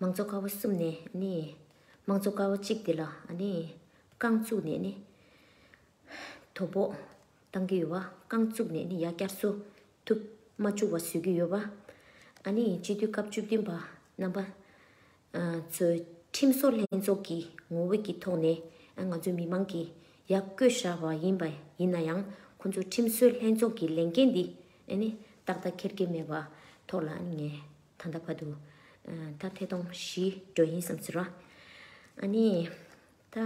མང་གཙོ་དཀར་བོ་གསུམ་ནས་ནི། དམངས་གཙོ་དཀར་བོ་གཅིག་དེ་ལ་ནི། རྐང་བཙུགས་ནས་ནི། དོ་ཕོག་བཏང་གི་ཡོད་པ། རྐང་བཙུགས་ནས་ནི་ཡ་བསྐྱར་གསོ་ཐུབ་མ་བཅུག་བ་བཟོས་ཀྱི་ཡོད་པ། ཨ་ནི་སྤྱི་འཐུས་སྐབས་བཅུ་བདུན་པ་རྣམ་པ། ཚུལ་ཁྲིམས་སོགས་ལྷན་ཚོགས་ཀྱི་ངོ་བོད་ཀྱི་ཐོག་ནས་ང་ཚོའི་མི་མང་གིས་ཡར་བསྐོས་བཞག་པ་ཡིན་པ་ཡིན་ན་ཡང་ཁོ་ཚོའི་ཁྲིམས་སྲོལ་ལྷན་ཚོགས་ཀྱི་ལས་འགན་འདི་ནི་ཏག་ཏག་འཁྱེར་གྱི་མེད་པ་ཐོག་ལ་ནི་ངས་ད་ལྟ་བར་དུ་ད་ཐེ་གཏོང་བཞིན་འགྲོ་ཡིན་བསམ་ཟེར་བ། ཨ་ནི་ད།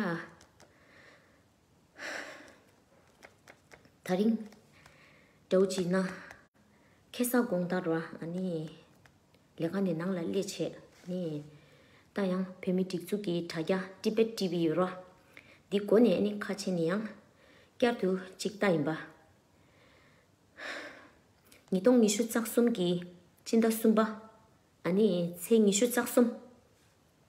ད་རིང། དགྲ་བོ་བྱིས་ན། ཁེ་སང་དགོང་ལྟར་རོ། ལས་ཀ་ནི་ནང་ལ་སླེ་བྱེད། ད་ཡང་བོད་མི་སྒྲིག་འཛུགས་ཀྱི་དྲ་རྒྱ་ཏི་བེད་ཏི་བི་ཡོད་རོ། འདི་མགོ་ནས་ནི་ཁ་ཕྱེ་ནི་ཡང། བསྐྱར་དུ་གཅིག་ལྟ་ཡིན་པ། ཉིས་སྟོང་ཉི་ཤུ་རྩ་གསུམ་གྱི། སྤྱི་ཟླ་གསུམ་པ། ཚེས་ཉི་ཤུ་རྩ་གསུམ།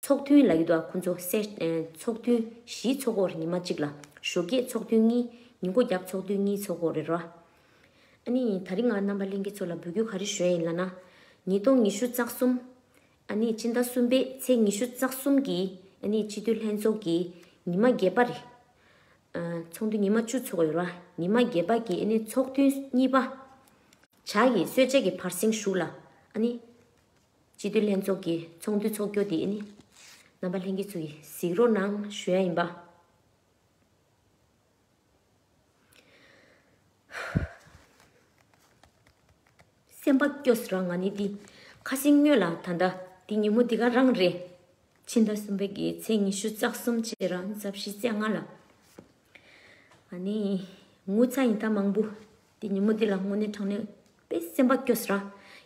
ཚོགས་ཐུན་ལ་ཡུལ་དུ་ཁོ་ཚོ་སེར། ཚོགས་ཐུན་བཞིའི་ཚོགས་འཁོར་ཉི་མ་གཅིག་ལ། ཞོ་སྐྱེས་ཚོགས་ཐུན་གཉིས། ཉིན་མགོ་རྒྱབ་ཚོགས་ཐུན་གཉིས་ཚོགས་འཁོར་རེ་རོ། ཨ་ནི་ད་རིང་ང་རྣམ་པ་གླིང་གེ་ཚོ་ལ་འབུལ་རྒྱུ་ག་རེ་ཞོན་ཡིན་ལ་ན། ཉིས་སྟོང་ཉི་ཤུ་རྩ་གསུམ། ཨ་ནི་སྤྱི་ཟླ་གསུམ་པའི་ཚེས་ཉི་ཤུ་རྩ་གསུམ་གྱི་ཨ་ནི་སྤྱི་འཐུས་ལྷན་ཚོགས་ཀྱི་ཉི་མ་བརྒྱད་པ་རེ། ཚོགས་འདུ་ཉི་མ་བཅུ་ཚོགས་ཡོད་རོ། ཉི་མ་བརྒྱད་པ་གྱི་ཨ་ནི་ཚོགས་ཐུན་གཉིས་པ། བྱ་ཡི་གསོལ་ཇའི་གི་བར་གསེང་བཞུགས་ལ། ཨ་ནི། སྤྱི་འཐུས་ལྷན་ཚོགས་ཀྱི་ཚོགས་འདུའི་ཚོགས་གྱོད་དེ་ནི། རྣམ་པ་ལྷན་རྒྱས་ཚོ་ཡིས་གཟིགས་རོགས་གནང་ཞུ་ཡ་ཡིན་པ། སེམས་པ་སྐྱོ་སོ་རང་ང་ནི་འདི་ཁ་ཞིང་སྨྱོས་ལ་ད་ལྟ་འདི་ཉིན་མོ་འདི་ག་རང་རེད། ཕྱི་ཟླ་གསུམ་པའི་གི་ཚེས་ཉི་ཤུ་རྩ་གསུམ་ཕྱི་ར་རྩ་བཞི་རྩེ་ལྔ་ལ། ང་ནི་ངུ་ཚ་ཡིན་ད་མང་པོ་དེ་ཉིན་མོ་དེ་ལ་དངོས་གནས་དྲང་གནས་པའི་སེམས་པ་སྐྱོ་ས་ར།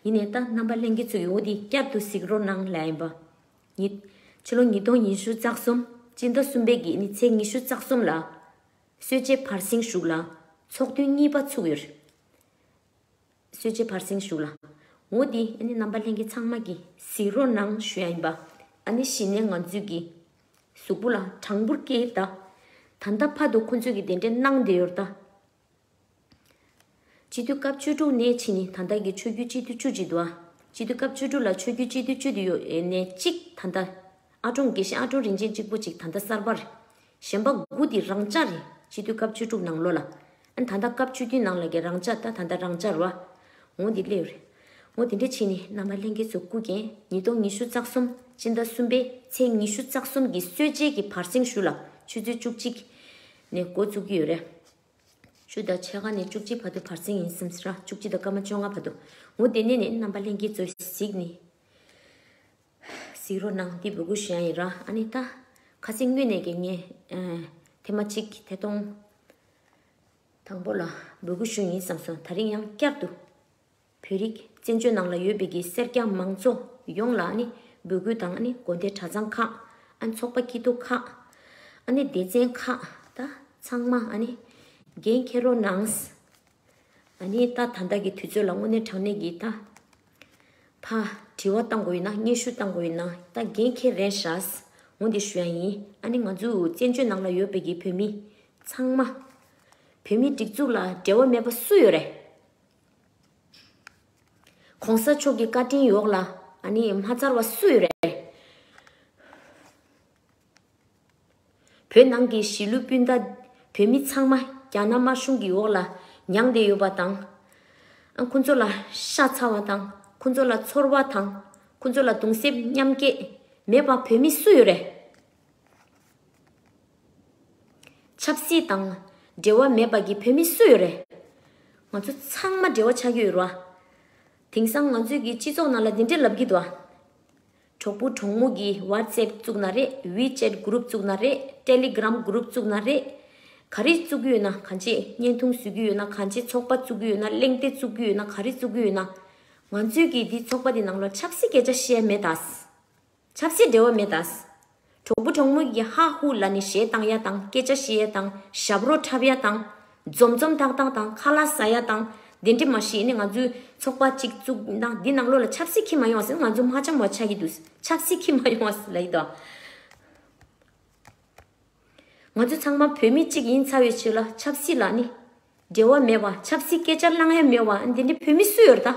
ཡིན་ནས་ད་རྣམ་པ་གླེང་མཁན་ཚོའི་འོ་དེ་བསྐྱར་དུ་གཟིགས་རོགས་གནང་ལ་ཡིན་པ། ཉིད། ཕྱི་ལོ་ཉིས་སྟོང་ཉི་ཤུ་རྩ་གསུམ། སྤྱི་ཟླ་གསུམ་པའི་དགེ་ནི་ཚེས་ཉི་ཤུ་རྩ་གསུམ་ལ། གསོལ་ཇའི་བར་གསེང་བཞུགས་ལ། ཚོགས་ཐུན་གཉིས་པ་ཚུགས་ཡོད། གསོལ་ཇའི་བར་གསེང་བཞུགས་ལ། འོ་དེ་ཨ་ནི་རྣམ་པ་གླེང་མཁན་ཚང་མ་གིས་གཟིགས་རོགས་གནང་ཞུ་ཡ་ཡིན་པ། ཨ་ནི་གཞི་ནས་ང་ཚོས་ཀྱི། གཟུགས་པོ་ལ་དྲང་པོར་སྐྱེས་ད། ད་ལྟ་ཕ་དོ་ཁོ་ཚོས་ཀྱི་དེ་འདྲའི་གནང་བསྡད་ཡོད་ད། སྤྱི་འཐུས་སྐབས་བཅུ་དྲུག་ནས་ཕྱི་ནི་ད་ལྟ་གི་ཆོས་བརྒྱུད་སྤྱི་འཐུས་བཅུ་གཅིག་འདུག་ཨ། སྤྱི་འཐུས་སྐབས་བཅུ་དྲུག་ལ་ཆོས་བརྒྱུད་སྤྱི་འཐུས་བཅུ་དེ་ཡོད་ནས་གཅིག་ད་ལྟ། ཨ་ཀྲོང་དགེ་བཤེས་ཨ་ཀྲོང་རིན་ཆེན་གཅིག་པོ་གཅིག་ད་ལྟ་གསར་པ་རེད། གཞན་པ་དགུ་དེ་རང་འཇགས་རེད་སྤྱི་འཐུས་སྐབས་བཅུ་དྲུག་ནང་ལོ་ལ། ཨ་ད་ལྟ་སྐབས་བཅུ་བདུན་ནང་ལ་གི་རང་འཇགས་ད་ད་ལྟ་རང་འཇགས་རོ་ཨ། ངོ་དེ་སླེའུ་རེད། ངོ་དེ་འདྲས་ཕྱི་ནི་རྣམ་པ་གླེང་མཁན་ཚོ་སྐུ་རྒྱན་ཉིས་སྟོང་ཉི་ཤུ་རྩ་གསུམ་སྤྱི་ཟླ་གསུམ་པའི་ཚེས་ཉི་ཤུ་རྩ་གསུམ་གི་སྲོད་རྗེས་ཀྱི་བར་གསེང་བཞུགས་ལ་ཆུ་ཚོད་བཅུ་གཅིག་ནས་འགོ་བཙུགས་ཀྱི་ཡོད་རེད། བཅུ་དང་ཕྱེད་ཀ་ནས་བཅུ་གཅིག་བར་དུ་བར་ཚིགས་ཡིན་སེམས་ཧྲཱི། བཅུ་གཅིག་དང་སྐར་མ་བཅོ་ལྔ་བར་དུ་ངོ། དེ་ནས་ནི་རྣམ་པ་ལྷན་སྐྱེས་སྩོལ། གཟིགས་ནི། གཟིགས་རོ་ནང་བསྟི་བུ་གུ་བཞིན་ཡིན་ར་ཨ་ནི་ད། ཁ་སིང་སྨྱོས་ནས་ཀྱེ་ངས། ཐེ་མ་གཅིག་ཐེ་སྟོང། དང་པོ་ལ་བུ་གུ་བཞིན་ཡིན་བསམས་སོ་ད་རིང་ཡང་བསྐྱར་དུ། བོད་རིགས་བཙན་བྱོལ་ནང་ལ་ཡོད་པའི་གི་སེར་སྐྱ་མང་ཚོ་ཡོངས་ལ་ནི་འབོད་སྐུལ་དང་ཨ་ནི་དགོན་སྡེ་གྲྭ་ཚང་ཁག་ཨ་ནི་ཚོགས་པ་སྐྱིད་སྡུག་ཁག་ཨ་ནི་སྡེ་ཚན་ཁག་ད་ཚང་མ་ཨ་ནི་འགན་འཁྱེར་རོགས་གནང། ཨ་ནི་ད་ད་ལྟ་གི་དུས་ཚོད་ལ་དངོས་གནས་དྲང་གནས་ཀྱི་ད་ཕ་དྲི་བ་བཏང་དགོས་ཡོད་ན་སྙན་ཞུ་བཏང་དགོས་ཡོད་ན་ད་འགན་འཁྱེར་རན་ཧྲཱས་ངོ་འདི་ཞུ་ཡ་ཡིན་ཨ་ནི་ང་ཚོ་བཙན་བྱོལ་ནང་ལ་ཡོད་པའི་གི་བོད་མི་ཚང་མ། བོད་མི་སྒྲིག་འཛུགས་ལ་འབྲེལ་བ་མེད་པ་སུ་ཡོད་རེད། གོང་ས་མཆོག་གི་བཀའ་དྲིན་ཡོག་ལ་མ་ཚར་བ་སུའི་རེད། བོད་ནང་གི་གཞིས་ལུས་སྤུན་ཟླ་བོད་མི་ཚང་མ་རྒྱ་ནག་དམར་གཞུང་གི་འོག་ལ་མྱངས་བསྡད་ཡོད་པ་དང། ཁོང་ཚོ་ལ་ཤ་ཚ་བ་དང་ཁོང་ཚོ་ལ་ཚོར་བ་དང་ཁོང་ཚོ་ལ་གདུང་སེམས་མཉམ་སྐྱེད་མེད་པ་བོད་མི་སུ་ཡོད་རེད། ཆབ་སྲིད་དང་འབྲེལ་བ་མེད་པ་གི་བོད་མི་སུ་ཡོད་རེད། ང་ཚོ་ཚང་མ་འབྲེལ་བ་ཆགས་ཀྱི་ཡོད་རོ། དེང་སང་ང་ཚོས་ཀྱི་སྤྱི་ཚོགས་ནང་ལ་འདི་འདྲའི་ལབ་ཀྱི་འདུག་ཨ། གྲོགས་པོ་གྲོགས་མོ་གི WhatsApp བཙུགས་ན་རེད WeChat Group བཙུགས་ན་རེད Telegram Group བཙུགས་ན་རེད། ག་རེ་བཙུགས་ཀྱི་ཡོད་ན་གང་བྱེད་བརྙན་ཐུང་བཟོས་ཀྱི་ཡོད་ན་གང་བྱེད་ཚོགས་པ་བཙུགས་ཀྱི་ཡོད་ན་གླེང་སྟེགས་བཙུགས་ཀྱི་ཡོད་ན་ག་རེ་བཙུགས་ཀྱི་ཡོད་ན། ང་ཚོས་ཀྱི་འདི་ཚོགས་པ་འདི་ནང་ལ་ཆབ་སྲིད་སྐད་ཆ་བཤད་མེད་ཨ། ཆབ་སྲིད་འབྲེལ་བ་མེད་ད། གྲོགས་པོ་གྲོགས་མོ་ཡི་ཧ་ཧུ་ལ་ནི་ཞེ་སྡང་ཡ་དང་སྐད་ཆ་ཤི་ཡ་དང་ཞབས་རོ་འཁྲབ་ཡ་དང། འཛོམས་འཛོམས་ཐག་ཐག་དང་ཁ་ལ་ཟ་ཡ་དང། དེ་འདྲི་མ་ཤེས་ནི་ང་ཚོའི་ཚོགས་པ་གཅིག་བཙུགས་ན་འདི་ནང་ལོགས་ལ་ཆབ་སྲིད་ཁྱི་མ་ཡོང་བ་ཟིན་ང་ཚོ་མ་ཆམ་བ་ཆགས་ཀྱི་འདུག་ཆབ་སྲིད་ཁྱི་མ་ཡོང་བ་ཟིན་ལ་ཡི་དྭོགས། ང་ཚོ་ཚང་མ་བོད་མི་གཅིག་ཡིན་ཚར་བའི་ཕྱིར་ལ་ཆབ་སྲིད་ལ་ནི་འབྲེལ་བ་མེད་པ་ཆབ་སྲིད་སྐད་ཆ་བསླང་ཡ་མེད་བ་འདི་འདྲི་བོད་མི་སུ་ཡོད་ད།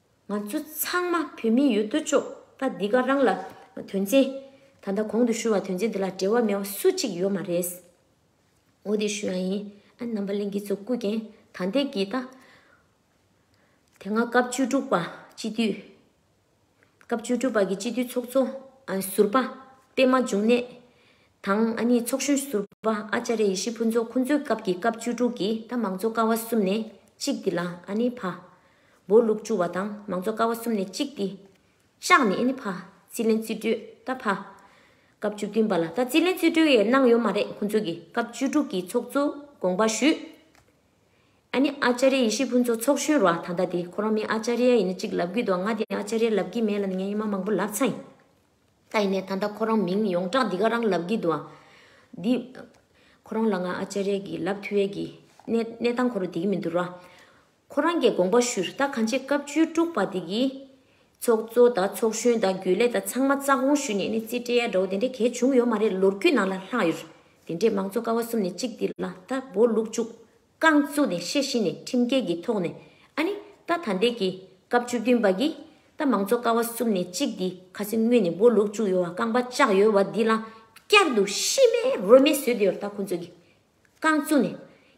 ང་ཚོ་ཚང་མ་བོད་མི་ཡོད་དོ་ཅོག་ད་འདི་ག་རང་ལ་དོན་ཚན་ད་ལྟ་གོང་དུ་ཞུས་བ་དོན་ཚན་འདི་ལ་འབྲེལ་བ་མེད་བ་སུ་གཅིག་ཡོད་མ་རེད། འོ་དེ་ཞུས་ཡང་ཡིན་ཨ་རྣམ་པ་གླིང་གི་ཚོ་སྐུ་རྒྱན་ད་འདེགས་ཀྱིས་ད། དེ་སྔ་སྐབས་བཅུ་དྲུག་པ་སྤྱི་འཐུས། སྐབས་བཅུ་དྲུག་པ་གི་སྤྱི་འཐུས་ཚོགས་གཙོ་ཟུར་པ་པད་མ་འབྱུང་གནས་དང་ཨ་ནི་ཚོགས་གཞོན་ཟུར་པ་ཨཅ་རེ་ཡེ་ཤེས་ཕུན་ཚོགས་ཁོང་ཚོའི་སྐབས་ཀྱི་སྐབས་བཅུ་དྲུག་གི་ད་མང་གཙོ་ཀ་བ་གསུམ་ནས་གཅིག་འདི་ལ་ཨ་ནི་ཕ། སྦོ་ལུག་བཅུ་བ་དང་མང་གཙོ་ཀ་བ་གསུམ་ནས་གཅིག་སྟེ། ལྕགས་ནི་ཨེ་ནི་ཕ། རྩིས་ལེན་རྩིས་སྤྲོད་ད་ཕ། སྐབས་བཅུ་བདུན་པ་ལ་ད་རྩིས་ལེན་རྩིས་སྤྲོད་ཡས་གནང་ཡོད་མ་རེད་ཁོང་ཚོས་ཀྱིས་སྐབས་བཅུ་དྲུག་གི་ཚོགས་གཙོ་དགོངས་པ་ཞུས། ཨ་ནི་ཨ་ཅཱ་རེ་ཡེ་ཤེས་ཕུན་ཚོགས་ཚོགས་གཞོན་རུ་ཨ་ད་ལྟ་དེ་ཁོ་རང་མི་ཨ་ཅཱ་རེ་ཡ་ཡིན་ན་གཅིག་ལབ་གི་འདུག་ང་དེ་ཨ་ཅཱ་རེ་ལབ་གི་མེད་ལ་ནི་ངའི་ཉི་མ་མང་པོ་ལབ་ཚ་ཡིན། ད་ཡིན་ནས་ད་ལྟ་ཁོ་རང་མིང་ཡོངས་གྲགས་འདི་ག་རང་ལབ་གི་འདུག་ཨ། འདི། ཁོ་རང་ལ་ང་ཨ་ཅཱ་རེ་གྱིས་ལབ་ཐུ་ཡས་ཀྱི་གནས་གནས་སྟངས་ཁོ་རུ་དེ་གི་མི་འདུག་རུ་ཨ། ཁོ་རང་གི་དགོངས་པ་ཞུས་ད་གང་ཆེ་སྐབས་བཅུའི་དཀྲུགས་པ་དེ་གིས། ཚོགས་གཙོ་དང་ཚོགས་གཞོན་དང་རྒྱུན་ལས་དང་ཚང་མ་རྩ་དགོངས་ཞུས་ནས་ནི་རྩིས་སྤྲད་ཡ་འདྲ་བོ་དེ་འདྲའི་གལ་བྱུང་ཡོད་མ་རེད་ལོ་རྒྱུས་ནང་ལ་ལྷག་ཡོད། དེ་འདྲས་མང་གཙོ་ཀ་བ་གསུམ་ནས་གཅིག་འདི་ལ་ད་སྦོ་ལུག་བཅུག་རྐང་བཙུག་ནས་ཤེས་བཞིན་ནས་ཁྲིམས་འགལ་གྱི་ཐོག་ནས་ཨ་ནི་ད་ད་འདས་ཀྱི་སྐབས་བཅུ་བདུན་པ་གིས་ད་མང་གཙོ་ཀ་བ་གསུམ་ནས་གཅིག་འདི་ཁ་སེ་སྔོན་ནས་སྦོ་ལུག་བཅུག་ཡོད་བ་རྐང་པ་བཅག་ཡོད་བ་འདི་ལ་བསྐྱར་དུ་ཤི་རྨས་རོལ་མེད་བཟོས་དེ་ཡོད་ད་ཁོ་ཚོས་གི་རྐང་བཙུགས་ནས།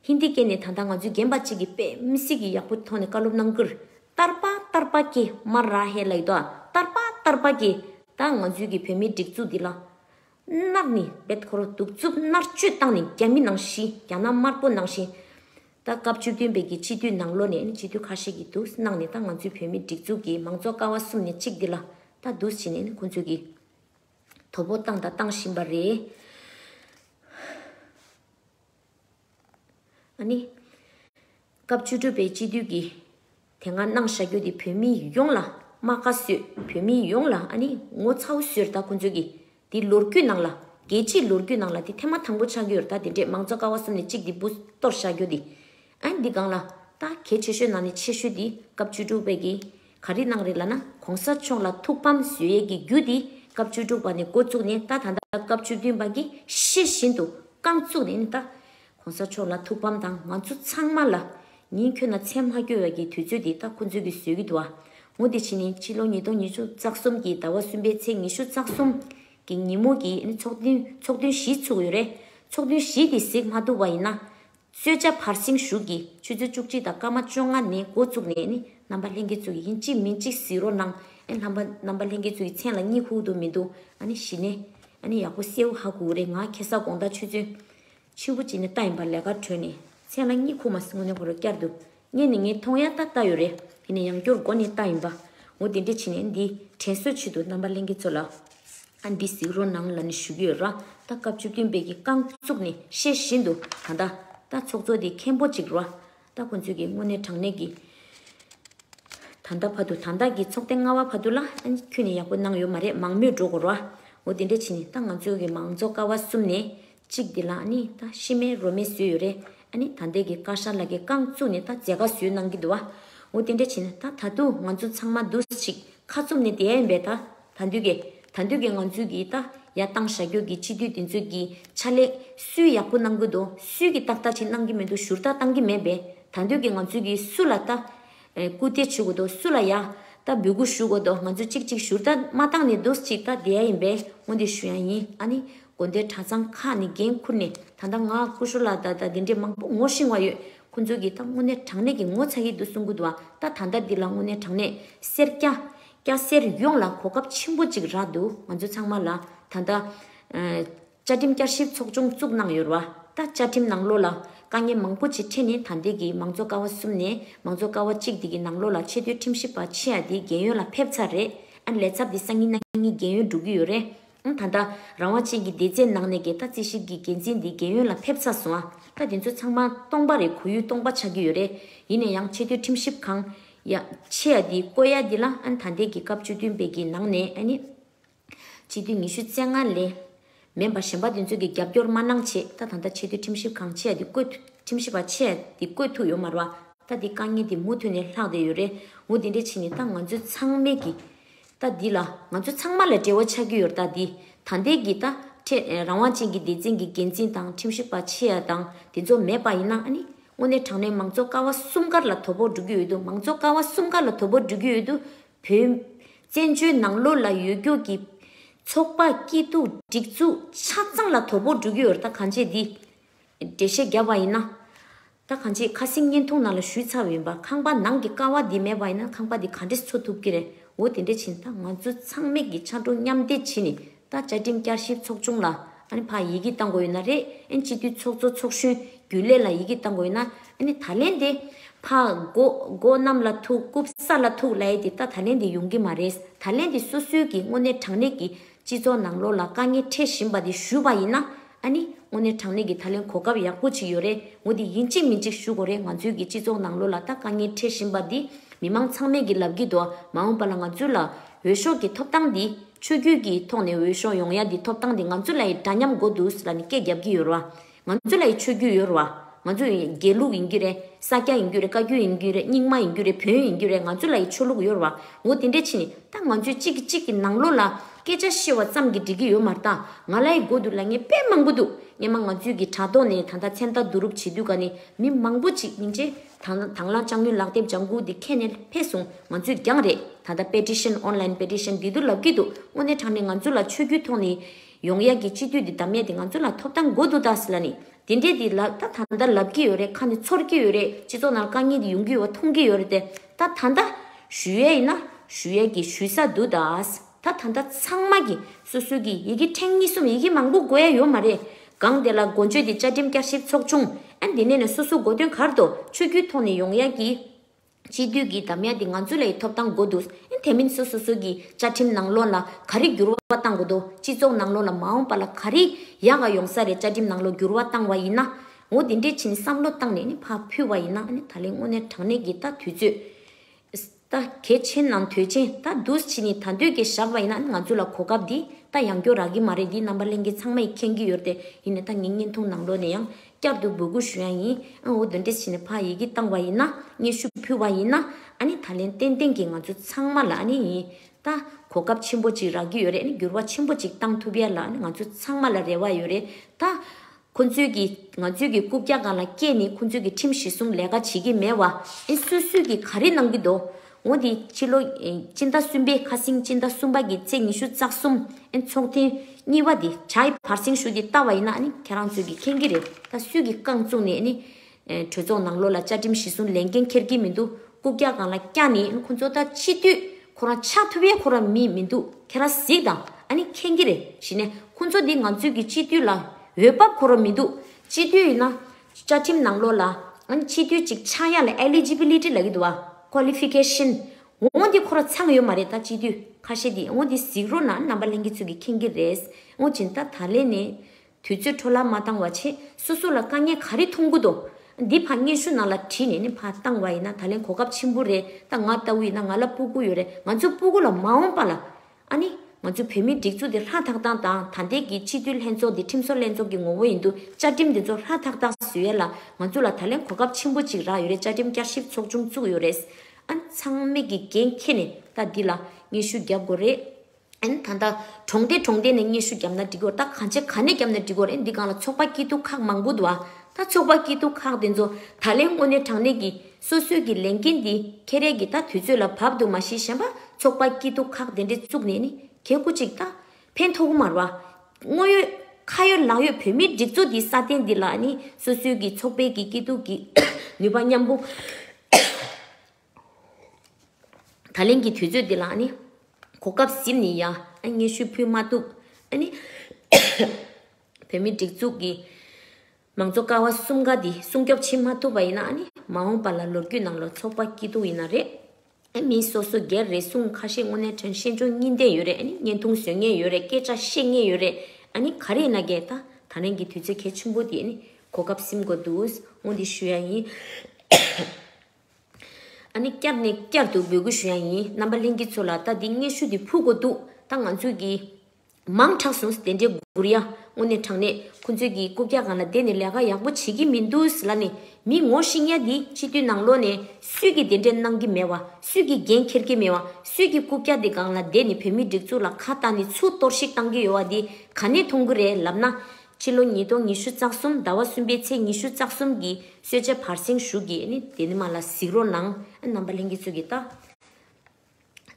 ཧིན་དི་སྐད་ནས་ད་ལྟ་ང་ཚོའི་རྒན་པ་གཅིག་གིས་པེ་མི་སི་གི་ཡག་པོ་ཐོག་ནས་བཀའ་སློབ་གནང་ཁུལ། ཏར་པ་ཏར་པ་ཀེ་མ་ར་ཧེ་ལ་ཡི་དོ་ཨ་ཏར་པ་ཏར་པ་ཀེ། ད་ང་ཚོའི་གི་བོད་མིའི་སྒྲིག་འཛུགས་འདི་ལ། མནར་ནི་བེད་ཁོ་རོ་གདུག་རྩུབ་མནར་གཅོད་བཏང་ནས་རྒྱ་མི་ནང་བཞིན་རྒྱ་ནག་དམར་པོ་ནང་བཞིན། ད་སྐབས་བཅུ་བདུན་པའི་གི་སྤྱི་འཐུས་ནང་ལོ་ནས་ནི་སྤྱི་འཐུས་ཁ་ཤས་ཀྱིས་དུས་གནང་ནས་ད་ང་ཚོའི་བོད་མིའི་སྒྲིག་འཛུགས་ཀྱི་མང་གཙོ་ཀ་བ་གསུམ་ནས་གཅིག་འདི་ལ། ད་དུས་ཕྱིན་ནས་ནི་ཁོང་ཚོའི་གི། དོ་པོ་བཏང་དང་བཏང་བཞིན་པ་རེད། ཨ་ནི། སྐབས་བཅུ་དྲུག་པའི་སྤྱི་འཐུས་ཀྱིས་དེ་སྔ་གནང་བཞག་རྒྱུ་དེ་བོད་མི་ཡོངས་ལ་རྨ་ཁ་བཟོས་བོད་མི་ཡོངས་ལ་ཨ་ནི་ངོ་ཚ་བོ་བཟོས་ད་ཁོང་ཚོས་ཀྱིས་དེ་ལོ་རྒྱུས་ནང་ལ་རྒྱལ་སྤྱིའི་ལོ་རྒྱུས་ནང་ལ་དེ་ཐེངས་མ་དང་པོ་ཆགས་རྒྱུ་ཡོད་ད་དེ་འདྲས་མང་གཙོ་ཀ་བ་གསུམ་ནས་གཅིག་དེ་འབུ་གཏོར་བཞག་རྒྱུ་དེ་ཨ་འདི་གང་ལ། ལྟ། གལ་ཆེ་ཤོས་ནང་ནས་ཆེ་ཤོས་འདི་སྐབས་བཅུ་དྲུག་པའི་གི། ག་རེ་གནང་རེད་ལ་ན་གོང་ས་མཆོག་ལ་ཐུགས་ཕམ་བཟོས་ཡས་ཀྱི་རྒྱུ་འདི་སྐབས་བཅུ་དྲུག་པ་ནས་འགོ་བཙུགས་ནས་ལྟ་ད་ལྟ་སྐབས་བཅུ་བདུན་པ་གི་ཤེས་བཞིན་དུ་རྐང་བཙུགས་ནས་ནི་ལྟ། གོང་ས་མཆོག་ལ་ཐུགས་ཕམ་དང་ང་ཚོ་ཚང་མ་ལ། ཉིན་ཁྱོད་ན་མཚན་མ་སྐྱོ་ཡས་ཀྱི་དུས་ཚོད་འདི་ལྟ་ཁོ་ཚོས་གི་བཟོས་གི་འདུག་ཨ། ངོ་འདི་ཕྱི་ནི་ཕྱི་ལོ་ཉིས་སྟོང་ཉི་ཤུ་རྩ་གསུམ་གི་ཟླ་བ་གསུམ་པའི་ཚེས་ཉི་ཤུ་རྩ་གསུམ། གི་ཉིན་མོ་གི་ནི་ཚོགས་འདུ་ཚོགས་འདུན་བཞི་ཚུགས་ཡོད་རེད། ཚོགས་འདུན་བཞི་འདི་གཟིགས་མ་ཐུབ་པ་ཡིན་ན། གསོལ་ཇ་བར་གསེང་བཞུགས་ཀྱི་ཆུ་ཚོད་བཅུ་གཅིག་དང་སྐར་མ་བཅོ་ལྔ་ནས་འགོ་བཙུགས་ནས་ནི་རྣམ་པ་ལྷན་སྐྱེས་ཚུལ་གྱིས་ཡིན་གཅིག་མིན་གཅིག་བཟི་རོ་གནང། ཨེ་ལྷམ་པ། རྣམ་པ་ལྷན་སྐྱེས་ཚུལ་གྱི་མཚན་ལ་གཉིད་ཁུག་ཏུ་མི་འདུག་ཨ་ནི་ཞི་ནས། ཨ་ནི་ཡག་པོ་སེའུ་ཧ་གུ་རེ་ང་ཁྱེད་ས་དགོངས་དག་ཆུ་ཚོད། ཆུ་བོ་གཅིག་ནས་རྟ་ཡིན་པར་ལས་ཀར་བྲོས་ནས་མཚན་ལ་གཉིད་ཁུག་མ་སོང་ནས་ཧོ་རོ་བསྐྱར་དུ་བརྙན་ནི་ངས་མཐོང་ཡ་ལྟ་ལྟ་ཡོད་རེད། ཡིན་ན་ཡང་སྐྱུར་མགོ་ནི་ལྟ་ཡིན་པ། ངོ་དེ་འདྲས་བྱས་ནས་འདི་དྲན་གསོས་ཆེད་དུ་རྣམ་པ་གླེང་མཁན་ཚོ་ལ། ཨ་འདི་གཟིགས་རོགས་གནང་ལ་ནི་ཞུ་གི་ཡོད་ར་ད་སྐབས་བཅུ་བདུན་པའི་གི་རྐང་བཙུགས་ནས་བཤད་བཞིན་དུ་ད་ལྟ། ད་ཚོགས་གཙོ་དེ་མཁན་པོ་གཅིག་ར་ད་ཁོང་ཚོས་གི་དངོས་གནས་དྲང་གནས་གི། ད་ལྟ་བར་དུ་ད་ལྟ་གི་ཚོགས་ཐེངས་ལྔ་བ་བར་དུ་ལ་ཨ་ཁྱོད་ནི་ཡག་པོ་གནང་ཡོད་མ་རེད་མང་མོས་འགྲོ་དགོས་ར། ངོ་དེ་འདྲས་བྱས་ནས་ད་ང་ཚོའི་གི་མང་ཚོགས་ཀ་བ་གསུམ་ནས་གཅིག་འདི་ལ་ཨ་ནི་ད་ཤི་མའི་རོ་མེད་བཟོས་ཡོད་རེད་ཨ་ནི་ད་འདས་ཀྱི་དཀར་ཤར་ལ་ཀའི་རྐང་བཙུགས་ནས་ད་མཛེས་དགའ་བཟོས་གནང་གི་འདུག་ཨ་འོ་དེ་འདྲ་བྱས་ན་ད་ད་དུང་ང་ཚོ་ཚང་མ་འདུ་ཤིག་ཁ་བཙུམ་ནས་བསྡད་ཡོད་པས་ད་ད་འདོད་ཀྱི་ད་འདོད་ཀྱི་ང་ཚོས་ཀྱི་ད་ཡ་བཏང་ཞག་སྒྱུར་གྱི་སྤྱི་འཐུས་དེ་ཚོས་ཀྱི་ཕྱག་ལས་སུས་ཡག་པོ་གནང་གི་འདུག་སུས་ཀྱི་ཏག་ཏག་ཅིག་གནང་གི་མི་འདུག་ཞུར་ཏག་བཏང་གི་མེད་པས་ད་འདོད་ཀྱི་ང་ཚོས་ཀྱི་སུ་ལ་ད། སྐུ་དེ་བྱུག་གོ་དོ་སུ་ལ་ཡ། ད་འབུལ་སྐུ་ཞུ་གོ་དོ་ང་ཚོས་ཅིག་ཅིག་ཞུར་ད་མ་བཏང་ནི་འདུག་ཅིག་ད་དེ་ཡིན་པས་ངོ་འདི་ཞུ་ཡང་ཡིན་ཨ་ནི། དགོན་སྡེ་གྲྭ་ཚང་ཁག་ནས་འགན་ཁུར་ནས་ད་ལྟ་ང་སྐུ་ཞུ་ལ་ད་ད་འདི་འདྲས་མང་པོ་ངོ་ཤེས་བ་ཡོད་ཁོ་ཚོས་གིས་ད་དངོས་གནས་དྲང་གནས་ཀྱི་ངོ་ཚ་ཡི་འདུག་གསུང་གི་འདུག་ད་ད་ལྟ་འདི་ལ་དངོས་གནས་དྲང་གནས་སེར་སྐྱ། སྐྱ་སེར་ཡོངས་ལ་གོ་སྐབས་ཆེན་པོ་ཅིག་རག་འདུག་ང་ཚོ་ཚང་མ་ལ་ད་ད། བཅའ་ཁྲིམས་བསྐྱར་ཞིབ་ཚོགས་ཆུང་བཙུགས་གནང་ཡོད་ར་ད་བཅའ་ཁྲིམས་ནང་ལོགས་ལ་དཀའ་ངལ་མང་པོ་ཅིག་འཕྲད་ནས་ད་ལྟའི་གི་མང་ཚོགས་ཀ་བ་གསུམ་ནས་མང་ཚོགས་ཀ་བ་གཅིག་འདི་གི་ནང་ལོགས་ལ་ཆེ་མཐོའི་ཁྲིམས་ཞིབ་པ་ཆེ་ཡ་དེ་རྒན་ཡོལ་ལ་ཕེབས་ཚར་རེད་ཨ་ལས་ཚབ་དེ་སང་ཉིན་གནངས་ཉིན་རྒན་ཡོལ་འགྲོ་གི་ཡོད་རེད་ཨང་ད་ལྟ་རང་དབང་ཅན་གི་སྡེ་ཚས་ནང་ནས་གི་ད་རྩིས་ཞིབ་གི་འགན་འཛིན་དེ་རྒན་ཡོལ་ལ་ཕེབས་ཚར་སོང་ཨ་ད་དེ་ཚོ་ཚང་མ་སྟོང་པ་རེད་གོ་ཡུལ་སྟོང་པ་ཆགས་ཀྱི་ཡོད་རེད་ཡིན་ན་ཡང་ཆེ་མཐོའི་ཁྲིམས་ཞིབ་ཁང་ཡ་ཆེ་ཡ་དེ་བསྐོས་ཡ་དེ་ལ་ཨ་ད་ལྟའི་གི་སྐབས་བཅུ་བདུན་པའི་གི་ནང་ནས་ཨ་ནི། སྤྱི་འཐུས་ཉི་ཤུ་རྩེ་ལྔ་ལས། མེན་པར་གཞན་པ་དེ་ཚོ་གི་རྒྱབ་སྐྱོར་མ་གནང་ཆེད་ད་ད་ད་ཆེས་མཐོའི་ཁྲིམས་ཞིབ་ཁང་ཆེ་ཡ་དེ་བསྐོས་ཐུ་ཁྲིམས་ཞིབ་པ་ཆེ་ཡ་དེ་བསྐོས་ཐུ་ཡོད་མ་རུ་ཨ། ད་དེ་དཀའ་ངལ་དེ་མུ་མཐུད་ནས་ལྷག་བསྡད་ཡོད་རེད་འུ་དེ་འདྲས་ཕྱིན་ནས་ད་ང་ཚོའི་ཚང་མས་ཀྱི། ད་འདི་ལ་ང་ཚོའི་ཚང་མ་ལ་འབྲེལ་བ་ཆགས་ཀྱི་ཡོད་ད་འདི་ད་འདས་ཀྱི་ད་ཁྲེད་རང་དབང་ཅན་གྱི་སྡེ་ཚན་གྱི་འགན་འཛིན་དང་ཁྲིམས་ཞིབ་པ་ཆེ་ཡ་དང་དེ་ཚོ་མེད་པ་ཡིན་ན་ཨ་ནི་དངོས་གནས་དྲང་གནས་མང་གཙོ་ཀ་བ་གསུམ་ཀར་ལ་དོ་ཕོག་འགྲོ་གི་ཡོད་དུ་མང་གཙོ་ཀ་བ་གསུམ་ཀ་ལ་དོ་ཕོག་འགྲོ་གི་ཡོད་དུ་བོད། བཙན་བྱོལ་ནང་ལོ་ལ་ཡོད་རྒྱུགས་ཀྱི། ཚོགས་པ་སྐྱིད་སྡུག་སྒྲིག་འཛུགས་ཆ་ཚང་ལ་དོ་ཕོག་འགྲོ་གི་ཡོད། ད་གང་ཆེས་འདི། འགྲེལ་བཤད་བརྒྱབ་པ་ཡིན་ན། ད་གང་ཆེས་ཁ་གསེང་བརྙན་ཐུང་ནང་ལ་ཞུས་ཚར་བ་ཡིན་པ་ཁང་པ་ནང་གི་ཀ་བ་འདི་མེད་པ་ཡིན་ན་ཁང་པ་འདི་ག་འདྲེས་འཚོ་ཐུབ་ཀྱི་རེད་འོ་དེ་འདྲས་ཕྱིན་ད་ང་ཚོ་ཚང་མེད་ཀྱི་ཕྱ་གྲོ་མཉམ་འདེགས་བྱེད་ནི་ད་བཅའ་ཁྲིམས་བསྐྱར་ཞིབ་ཚོགས་ཆུང་ལ་ཨཱ་ཕ་ཡི་གེ་བཏང་དགོས་ཡོད་ན་རེད་ཨཱ་སྤྱི་འཐུས་ཚོགས་གཙོ་ཚོགས་གཞོན་རྒྱུན་ལས་ལ་ཡི་གེ་བཏང་དགོས་ཡོད་ན་ཨཱ་ད་ལན་དེ་ཕ་མགོ་མགོ་གནམ་ལ་ཐུག་རྐུབ་ས་ལ་ཐུག་ལ་ཡེ་དེ་ད་ད་ལན་དེ་ཡོང་གི་མ་རེད་ད་ལན་དེ་སོ་སོའི་གི་དངོས་གནས་དྲང་གནས་ཀྱི་སྤྱི་ཚོགས་ནང་ལོག་ལ་དཀའ་ངལ་འཕྲད་བཞིན་པ་དེ་ཞུས་པ་ཡིན་ན་ཨཱ་དངོས་གནས་དྲང་གནས་ཀྱི་ད་ལན་གོ་སྐབས་ཡག་པོ་ཅིག་ཡོད་རེད་ངོ་དེ་ཡིན་གཅིག་མིན་གཅིག་ཞུ་དགོས་རེད་ང་ཚོའི་གི་སྤྱི་ཚོགས་ནང་ལོག་ལ་ད་དཀའ་ངལ་འཕྲད་བཞིན་པ་དེ་མི་མང་ཚང་མས་གི་ལབ་གི་འདུག་མ་འོངས་པ་ལ་ང་ཚོའི་ལ་འོས་ཤོག་གི་ཐོབ་ཐང་དེ། ཆོས་བརྒྱུད་ཀྱི་ཐོག་ནས་འོས་ཤོག་ཡོང་ཡ་འདི་ཐོབ་ཐང་འདི་ང་ཚོ་ལ་ཡི་འདྲ་མཉམ་མགོ་འདུག་ལ་ནི་སྐད་རྒྱབ་ཀྱི་ཡོད་ར་ང་ཚོ་ལ་ཡི་ཆོས་བརྒྱུད་ཡོད་ར་ང་ཚོ་ཡི་རྒྱལ་ལུགས་ཡིན་རྒྱུ་རེད་ས་སྐྱ་ཡིན་རྒྱུ་རེད་བཀའ་བརྒྱུད་ཡིན་རྒྱུ་རེད་རྙིང་མ་ཡིན་རྒྱུ་རེད་བོན་ཡིན་རྒྱུ་རེད་ང་ཚོ་ལ་ཡི་ཆོས་ལུགས་ཡོད་ར་འོ་དེ་འདྲས་ཕྱིན་ནི་ད་ང་ཚོས་གཅིག་གིས་གཅིག་གི་ནང་ལོགས་ལ་སྐད་ཆ་བཤེར་བ་ཙམ་གྱིས་འགྲིག་གི་ཡོད་མ་རྟ་ང་ལ་ཡི་མགོ་འདུག་ལ་ངས་དཔེ་མང་པོ་འདུག་སྙེ་མ་ང་ཚོས་གི་དྲ་ཐོག་ནས་ད་ལྟ་མཚན་རྟ་བསྡུ་རུབ་བྱེད་དུས་ག་ནི་མི་མང་པོ་གཅིག་མིན་ཅེས། དང་དང་བླངས་ལྕགས་སྣོན་ལག་དེབ་ལྗང་གུ་འདི་ཁྱེད་ནས་ཕེབས་སོང་ང་ཚོས་རྒྱང་རེད་ད་ལྟ Petition Online Petition འདི་དུ་ལབ་གི་འདུག་དངོས་གནས་དྲང་ནས་ང་ཚོ་ལ་ཆོས་རྒྱུད་ཐོག་ནས་ཡོང་ཡག་གི་སྤྱི་འཐུས་འདི་ད་མེད་དེ་ང་ཚོ་ལ་ཐོབ་ཐང་འགོ་འདུག་ད་སི་ལ་ནི་དེ་འདྲས་འདི་ལ་ད་ད་ལྟ་ལབ་གི་ཡོད་རེད་ཁ་ནས་ཚོར་གི་ཡོད་རེད་སྤྱི་ཚོགས་ནང་དཀའ་ངལ་འདི་ཡོང་གི་ཡོད་བ་མཐོང་གི་ཡོད་རེད་དེ་ད་ད་ད་ད་ཞུ་ཡས་ཡིན་ན་ཞུ་ཡས་ཀྱི་ཞུས་ས་འདུག་ད་སི། ད་ད་ལྟ་ཚང་མ་གི་སོ་སོའི་གི་ཡི་གེ་ཕྲེང་གཉིས་གསུམ་ཡི་གེ་མང་པོ་དགོས་ཡ་ཡོད་མ་རེད་གང་དེ་ལ་འགོ་འཇོས་དེ་བཅའ་ཁྲིམས་བསྐྱར་ཞིབ་ཚོགས་ཆུང་ཨན་དེ་ནས་ནས་སོ་སོ་འགོ་དོན་གར་དོ་ཆོས་རྒྱུད་ཐོག་ནས་ཡོང་ཡ་གི། སྤྱི་འཐུས་གི་དམ་ཡ་དེ་ང་ཚོའི་ལ་ཡི་ཐོབ་ཐང་འགོ་འདུག་ཨན་དེ་མིན་སོ་སོ་སོའི་གི་བཅའ་ཁྲིམས་ནང་ལོ་ལ་ག་རེ་འགྱུར་བ་བཏང་དགོས་དོ་སྤྱི་ཚོགས་ནང་ལོ་ལ་མ་འོངས་པ་ལ་ག་རེ་ཡ་ག་ཡོང་ས་རེད་བཅའ་ཁྲིམས་ནང་ལོ་འགྱུར་བ་བཏང་བ་ཡིན་ན་འོ་དེ་འདྲས་ཕྱིན་བསམ་བློ་བཏང་ནས་ནས་ཕ་ཕུལ་བ་ཡིན་ན་ཨན་ད་ལེ་དངོས་གནས་དྲང་གནས་གི་ད་དུས་ཚོད་ད་གལ་ཆེན་ནམ་དོལ་ཆེན་ད་འདུས་བྱས་ནི་ད་འདུས་ཀྱི་ཞགས་པ་ཡིན་ན་ནི་ང་ཚོ་ལ་གོ་སྐབས་འདི་ད་ཡང་སྐྱོ་རག་གི་མ་རེད་འདི་རྣམ་པ་གླེང་མཁན་ཚང་མ་ཡི་མཁྱེན་གི་ཡོད་དེ་ཡིན་ནི་ད་ངས་བརྙན་ཐུང་ནང་ལོག་ནས་ཡང་བསྐྱར་དུ་འབོད་སྐུལ་ཞུ་ཡ་ཡིན་ཨ་འོ་འདི་འདྲས་བྱས་ནི་ཕ་ཡི་གི་བཏང་བ་ཡིན་ན་སྙན་ཞུ་ཕུལ་བ་ཡིན་ན་ཨ་ནི་ད་ལན་ཏན་ཏན་གི་ང་ཚོ་ཚང་མ་ལ་ཨ་ནི་ཡིན་ད་གོ་སྐབས་ཆེན་པོ་ཅིག་རག་གི་ཡོད་རེད་ཨ་ནི་འགྱུར་བ་ཆེན་པོ་ཅིག་བཏང་ཐུབ་ཡ་ལ་ཨ་ནི་ང་ཚོ་ཚང་མ་ལ་རེ་བ་ཡོད་རེད་ད། ཁོ་ཚོས་ཀྱིས་ང་ཚོས་ཀྱིས་རྐུབ་བཀྱག་གང་ལ་བཀྱེས་ནས་ཁོ་ཚོས་ཀྱིས་ཁྲིམས་གཞི་སྲུང་ལས་ཀ་བྱེད་ཀྱིས་མེད་བ། ཨེ་སུས་སུས་ཀྱིས་ག་རེ་གནང་གི་འདུག་འོ་དེ་ཕྱི་ལོ། སྤྱི་ཟླ་གསུམ་པའི་ཁ་སེང་སྤྱི་ཟླ་གསུམ་པ་གྱི་ཚེས་ཉི་ཤུ་རྩ་གསུམ། ཨེ་ཚོགས་ཐེངས་གཉིས་པ་དེ་བྱ་ཡི་བར་སེང་ཞུ་དེ་བལྟ་བ་ཡིན་ན་ཨེ་ནི་ཁྱེད་རང་ཚོས་ཀྱིས་མཁྱེན་གྱི་རེད་ད་སུས་ཀྱིས་རྐང་བཙུགས་ནས་ཨེ་ནི། གྲོས་ཚོགས་ནང་ལོ་ལ་བཅའ་ཁྲིམས་གཞི་བཟུང་ལས་འགན་འཁྱེར་གྱི་མི་འདུག་རྐུབ་བཀྱག་གང་ལ་བཀྱག་ནི་ཁོ་ཚོ་ད་ཕྱི་དུས་ཁོ་རང་ཆགས་ཐུབ་ཡས་ཁོ་རང་མི་མི་འདུག་ཁྱེད་རང་གཟིགས་དང་ཨ་ནི་མཁྱེན་གྱི་རེད་གཞི་ནས་ཁོ་ཚོ་འདི་ང་ཚོས་ཀྱི་སྤྱི་འཐུས་ལ་འོས་བབ་ཁོ་རང་མི་འདུག་སྤྱི་འཐུས་ཡིན་ན་བཅའ་ཁྲིམས་ནང་ལོ་ལ་ཨ་ནི་སྤྱི་འཐུས་གཅིག་ཆགས་ཡས་ལ Eligibility ལ་གི་འདུག་ཨ Qualification ངོ་འདི་ཁོ་རང་ཚང་ཡོད་མ་རེད་ད་སྤྱི་འཐུས་ཁ་ཤས་འདི་ངོ་འདི་གཟིགས་རོགས་ན་རྣམ་པ་གླེང་གི་ཚུལ་གྱི་མཁྱེན་གྱི་རེད་ངོ་སྦྱིན་ད་ད་ལས་ནས་དུས་ཚོད་འཕྲོ་བརླག་མ་བཏང་བ་ཆེད་སོ་སོ་ལ་དཀའ་ངལ་ག་རེ་མཐོང་གི་འདུག་འདི་ཕ་སྙན་ཞུ་ནང་ལ་བྲིས་ནས་ནི་ཕ་བཏང་བ་ཡིན་ན་ད་ལན་གོ་སྐབས་ཆེན་པོ་རེད་ད་ང་ལྟ་བུ་ཡིན་ན་ང་ལ་སྤུ་སྐུ་ཡོད་རེད་ང་ཚོའི་སྤུ་སྐུ་ལ་མ་འོངས་པ་ལ་ཨ་ནི་ང་ཚོའི་བོད་མིའི་སྒྲིག་འཛུགས་འདི་ལྷ་ཐག་ཐག་དང་ད་ལྟའི་གི་སྤྱི་འཐུས་ལྷན་ཚོགས་འདི་ཁྲིམས་བཟོ་ལྷན་ཚོགས་ཀྱི་ངོ་བོ་ཡིན་འདུག་བཅའ་ཁྲིམས་འདི་ཚོ་ལྷ་ཐག་ཐག་བཟོས་ཡས་ལ་ང་ཚོ་ལ་ད་ལན་གོ་སྐབས་ཆེན་པོ་ཅིག་རག་ཡོད་རེད་བཅའ་ཁྲིམས་བསྐྱར་ཞིབ་ཚོགས་ཆུང་བཙུགས་ཡོད་རེད་ཨ་ནི་ཚང་མས་གི་འགན་ཁྱེར་ནས་ད་འདི་ལ་སྙན་ཞུ་རྒྱབ་དགོས་རེད། ཨན། ད་ལྟ་གྲོང་སྡེ་གྲོང་སྡེ་ནས་སྙན་ཞུ་བརྒྱབ་ན་འགྲིག་གོ་ད་གང་ཆེ་ག་ནས་བརྒྱབ་ན་འགྲིག་གོ་རེད་འདི་སྒང་ལ་ཚོགས་པ་སྐྱིད་སྡུག་ཁག་མང་པོ་འདུག་ཨ་ད་ཚོགས་པ་སྐྱིད་སྡུག་ཁག་དེ་ཚོ་ད་ལན་དངོས་གནས་དྲང་གནས་ཀྱི་སོ་སོས་ཀྱི་ལས་འགན་འདི་ཁེ་རས་ཀྱི་ད་དུས་ཚོད་ལ་བབ་འདུག་མ་ཤེས་གཞན་པ་ཚོགས་པ་སྐྱིད་སྡུག་ཁག་དེ་འདྲས་བཙུགས་ནས་ནི་གེ་སྒུག་ཅིག་ད་ཕན་མཐོ་གོ་མར་བ། དངོས་ཡོད་ཁ་ཡོད་ལག་ཡོད་བོད་མིའི་སྒྲིག་འཛུགས་འདི་སྲ་བརྟན་འདི་ལ་ནི་སོ་སོའི་ཀྱི་ཚོགས་པའི་ཀྱི་སྐྱིད་སྡུག་གི་ནུས་པ་མཉམ་པོ། ད་ལན་གྱི་དུས་ཚོད་འདི་ལ་ནི། གོ་སྐབས་གཟིམས་ནས་ཡ་ངའི་ཤུལ་ཕུལ་མ་ཐུབ། བོད་མིའི་སྒྲིག་འཛུགས་ཀྱི་མང་གཙོ་ཀ་བ་གསུམ་ཀ་འདི་སྲུང་སྐྱོབ་བྱེད་མ་ཐུབ་པ་ཡིན་ན། མ་འོངས་པ་ལ་ལོ་རྒྱུས་ནང་ལོ་ཚོགས་པ་སྐྱིད་སྡུག་ཡིན་ན་རེད། མི་སོ་སོ་སྒེར་རེ་ཟུང་ཁ་ཤས་དངོས་གནས་དྲན་ཤེས་འབྱུང་གཉིས་ལྡན་ཡོད་རེད་བརྙན་ཐུང་བཟོས་ངེས་ཡོད་རེད་སྐད་ཆ་བཤད་ངེས་ཡོད་རེད། ག་རེ་ཡིན་ན་འགལ་ད་ལན་གྱི་དུས་ཚོད་གལ་ཆེན་པོ་འདི་གོ་སྐབས་གཟིམས་དགོས་འདུག་སྔོན་འདི་ཞུ་ཡ་ཡིན། ཨ་ནི་བསྐྱར་ནས་བསྐྱར་དུ་འབོད་སྐུལ་ཞུ་ཡ་ཡིན་རྣམ་པ་ལྷན་རྒྱས་ཚོ་ལ་ལྟ་འདི་སྔས་ཤུལ་དེ་ཕུག་གོ་འདུག་ད་ང་ཚོས་ཀྱི། མང་དྲགས་སོང་ཟེ་དེ་འདྲའི་སྒུར་ཡ་དངོས་གནས་དྲགས་ནས་ཁོ་ཚོས་ཀྱི་རྐུབ་བཀྱག་གང་ལ་བསྡད་ནས་ལས་ཀ་ཡག་པོ་བྱེད་ཀྱི་མི་འདུག་ཟེ་ལ་ནི་མི་ངོ་ཤེས་ཡ་འདི་སྤྱི་འཐུས་ནང་ལོག་ནས་སུས་ཀྱི་དེ་འདྲས་གནང་གི་མེད་བ་སུས་ཀྱི་འགན་འཁྱེར་གྱི་མེད་བ་སུས་ཀྱི་རྐུབ་བཀྱག་དེ་གང་ལ་བསྡད་ནས་བོད་མི་སྒྲིག་འཛུགས་ལ་ཁ་བཏགས་ནི་ཚུར་གཏོར་བཤིག་གཏང་གི་ཡོད་བ་འདི་ག་ནས་མཐོང་གི་རེད་ལབ་ན། ཕྱི་ལོ་ཉིས་སྟོང་ཉི་ཤུ་རྩ་གསུམ་ཟླ་བ་གསུམ་པའི་ཚེས་ཉི་ཤུ་རྩ་གསུམ་གྱི་གསོལ་ཇའི་བར་གསེང་བཞུགས་ཀྱིས་ནི་དེ་ནི་མ་ལ་གཟིགས་རོགས་གནང། རྣམ་པ་ལྷན་སྐྱེས་ཚུལ་གྱིས་བལྟ།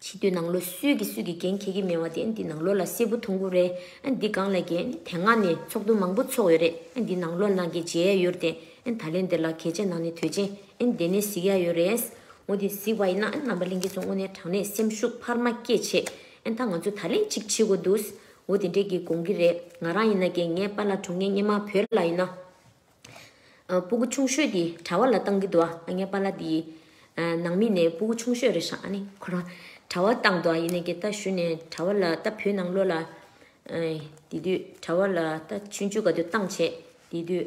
ཕྱི་དུས་ནང་ལོ་སུས་ཀྱིས་སུས་ཀྱིས་འགན་འཁྱེར་གྱི་མེད་བ་དེ་འདི་ནང་ལོ་ལ་སེར་བུ་ཐུང་ཀུ་རེ། འདི་སྒང་ལ་རྒན་ནི་དེ་སྔ་ནས་ཚོགས་འདུ་མང་པོ་ཚོགས་ཡོད་རེད། འདི་ནང་ལོ་ནང་གི་མཇལ་ཡ་ཡོད་རེད་དེ། ད་ལན་འདི་ལ་གལ་ཆེ་ནང་ནས་དོད་ཆེ། འདི་ནས་གཟིགས་ཡ་ཡོད་རེད། འོ་དེ་གཟིགས་པ་ཡིན་ན་རྣམ་པ་ལྷན་སྐྱེས་ཚོ་དངོས་གནས་དྲང་གནས་སེམས་ཤུགས་འཕར་མ་སྐྱེད་ཆེད། ད་ང་ཚོ་ད་ལན་ཅིག་བྱེད་དགོས་འདུག། འོ་དེ་འདྲས་ཀྱི་དགོངས་ཀྱི་རེད་ང་རང་ཡིན་ན་རྒྱའི་ངའི་པ་ལ་དྲུང་ངའི་སྙེ་མ་བོད་ལ་ཡིན་ན། སྤུ་གུ་ཆུང་ཤོས་དེ་གྲྭ་བ་ལ་བཏང་གི་འདུག་ང་ངའི་པ་ལ་དེ་ནང་མི་ནས་སྤུ་གུ་ཆུང་ཤོས་རེད་ཧྲ་ནི་ཁོ་རང་གྲྭ་བ་བཏང་འདུག་ཡིན་ནས་རྒྱའི་རྟ་ཞུ་ནས་གྲྭ་བ་ལ་རྟ་བོད་ནང་ལོ་ལ། དེ་དུས་གྲྭ་བ་ལ་རྟ་ཆུང་ཆུ་ག་དུས་བཏང་བྱས་དེ་དུས།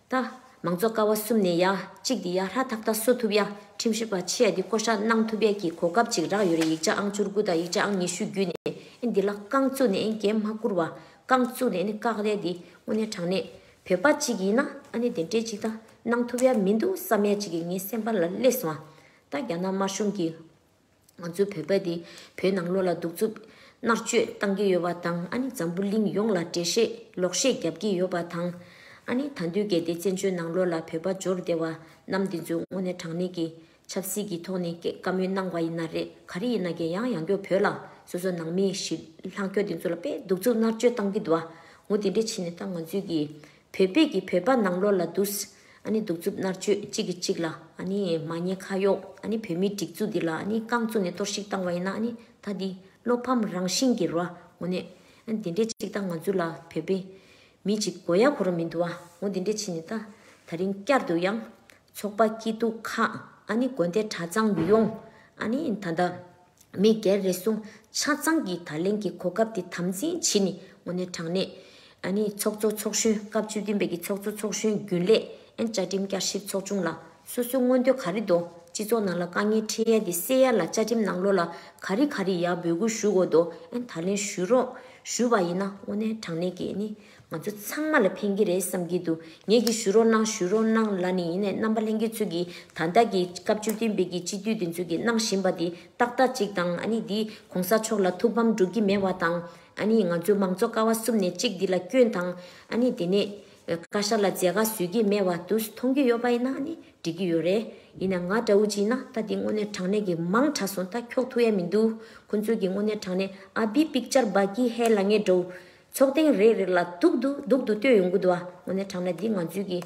ད། མང་ཚོགས་ཀ་བ་གསུམ་ནས་ཡ། གཅིག་འདི་ཡ་ཧྲ་ཐག་ཐག་བཟོ་ཐུབ་ཡ། ཁྲིམས་ཞིབ་པ་ཆེ་ཡ་འདི་བསྐོ་བཞག་གནང་ཐུབ་ཡ་ཀྱི་གོ་སྐབས་ཅིག་རག་ཡོད་རེད་ཡིག་ཆ་ཨང་བཅུར་དགུ་དང་ཡིག་ཆ་ཨང་ཉི་ཤུ་བརྒྱུད་ནས་ཨེ་འདི་ལ་རྐང་བཙུགས་ནས་ཨེ་འགན་མ་བསྐུར་བ། རྐང་བཙུགས་ནས་ཨེ་ནི་བཀག་ལས་འདི་དངོས་གནས་དྲང་གནས་བོད་པ་ཅིག་ཡིན་ན་ཨ་ནི་དེ་འདྲས་ཅིག་ད་གནང་ཐུབ་ཡ་མི་འདུག་བསམ་ཡ་ཅིག་གི་ངའི་སེམས་པ་ལ་བསླེས་སོང། ད་རྒྱ་ནག་དམར་གཞུང་གི། ང་ཚོའི་བོད་པ་དེ་བོད་ནང་ལོགས་ལ་གདུག་རྩུབ་མནར་གཅོད་བཏང་གི་ཡོད་པ་དང་ཨ་ནི་འཛམ་བུ་གླིང་ཡོངས་ལ་འགྲེལ་བཤད་ལོག་བཤད་རྒྱབ་ཀྱི་ཡོད་པ་དང། ཨ་ནི་ད་འདུས་གལ་ཏེ་བཙན་བྱོལ་ནང་ལོགས་ལ་བོད་པ་འབྱོར་བདེ་བ་རྣམས་འདི་ཚོའི་དངོས་གནས་དྲང་གནས་ཀྱི་ཆབ་སྲིད་ཀྱི་ཐོག་ནས་བཀའ་མོལ་གནང་བ་ཡིན་ན་རེད་ག་རེ་ཡིན་ན་རྒྱལ་ཡང་ཡང་སྐྱོ་བོད་ལ་སོ་སོ་ནང་མི་ཞིག་ལྷག་སྐྱོ་འདི་ཚོ་ལ་དཔེ་གདུག་རྩུབ་མནར་གཅོད་བཏང་གི་འདུག་ངོ་དེ་འདྲས་ཕྱིན་ནས་ད་ང་ཚོའི་གི་བོད་པས་ཀྱི་བོད་པ་ནང་ལོགས་ལ་དུས་ཨཱ་ནི་སྡུག་རྩུབ་མནར་གཅོད་གཅིག་གིས་གཅིག་ལ་ཨཱ་ནི་མ་ཉེས་ཁ་གཡོག་ཨཱ་ནི་བོད་མིའི་སྒྲིག་འཛུགས་འདི་ལ་ཨཱ་ནི་རྐང་བཙུགས་ནས་གཏོར་བཤིག་བཏང་བ་ཡིན་ན་ཨཱ་ནི་ད་འདི་བློ་ཕམ་རང་བཞིན་གྱི་རོ་ཨཱ་ངོ་ནས་ཨཱ་ནི་འདི་འདྲས་གཅིག་ད་ང་ཚོ་ལ་བོད་པའི་མི་གཅིག་མགོ་ཡག་གོ་ར་མི་འདུག་ཨཱ་ངོ་འདི་འདྲས་བྱས་ནས་ད་ད་རིང་བསྐྱར་དུ་ཡང་ཚོགས་པ་སྐྱིད་སྡུག་ཁག་ཨཱ་ནི་དགོན་སྡེ་གྲྭ་ཚང་ཡུལ་ཡོངས་ཨཱ་ནི་ད་ད། མི་སྒེར་རེ་ཟུང་ཆ་ཚང་གིས་ད་ལན་གྱི་གོ་སྐབས་དེ་དམ་འཛིན་བྱེད་ནས་ངོ་ནས་དྲང་གནས། ཚོགས་གཙོ་ཚོགས་གཞོན་སྐབས་བཅུ་བདུན་པའི་གི་ཚོགས་གཙོ་ཚོགས་གཞོན་རྒྱུན་ལས། བཅའ་ཁྲིམས་བསྐྱར་ཞིབ་ཚོགས་ཆུང་ལ་སོ་སོའི་མངོན་འདོད་ག་རེ་འདུག་སྤྱི་ཚོགས་ནང་ལ་དཀའ་ངལ་འཕྲད་ཡས་དེ་སེལ་ཡས་ལ་བཅའ་ཁྲིམས་ནང་ལོ་ལ་ག་རེ་ག་རེ་ཡག་འབོད་སྐུལ་ཞུ་དགོས་འདུག་ད་ལན་ཞུ་རོགས་ཞུ་བ་ཡིན་ན་ངོ་ནས་དྲང་གནས་ཀྱི། ང་ཚོ་ཚང་མ་ལ་ཕན་གྱི་རེད་བསམ་གྱི་འདུག་ངེད་ཀྱིས་ཞུ་རོགས་གནང་ཞུ་རོགས་གནང་ལ་ནི་ཡིན་ནས་རྣམ་པ་ལྷན་རྒྱས་ཚོས་ཀྱི་ད་ལྟ་གྱི་སྐབས་བཅུ་བདུན་པའི་གྱི་སྤྱི་འཐུས་དེ་ཚོས་ཀྱི་གནང་བཞིན་པ་དེ་ཏག་ཏག་ཅིག་དང་ཨ་ནི་འདི་གོང་ས་མཆོག་ལ་ཐུགས་ཕམ་བསྒྲུབ་ཀྱི་མེད་བ་དང་ཨ་ནི་ང་ཚོའི་མང་ཚོགས་ཀ་བ་གསུམ་ནས་གཅིག་འདི་ལ་སྐྱོན་དང་ཨ་ནི་དེ་ནས་བཀའ་ཤག་ལ་མཛད་དགག་བཟོས་ཀྱི་མེད་བ་དུ་མཐོང་གི་ཡོད་པ་ཡིན་ན་ཨ་ནི་འགྲིག་གི་ཡོད་རེད་ཡིན་ན་ང་འདྲ་བོ་ཅིག་ཡིན་ན་ད་འདི་དངོས་གནས་དྲང་གནས་ཀྱི་མང་དྲག་སོང་ད་འཁྱོག་ཐུག་ཡ་མི་འདུག་ཁོ་ཚོས་ཀྱི་དངོས་གནས་དྲང་གནས་ཨ་བི་པིག་ཅར་སྦ་ཀི་ཧེ་ལ་ངེད་འགྲོ། ཚོགས་ཐེངས་རེ་རེ་ལ་དུག་ཏུ་དུག་ཏུ་སྟོད་ཡོང་གི་འདུག་ཨ་ངོ་ནས་དྲངས་ན་འདི་ང་ཚོའི་གི་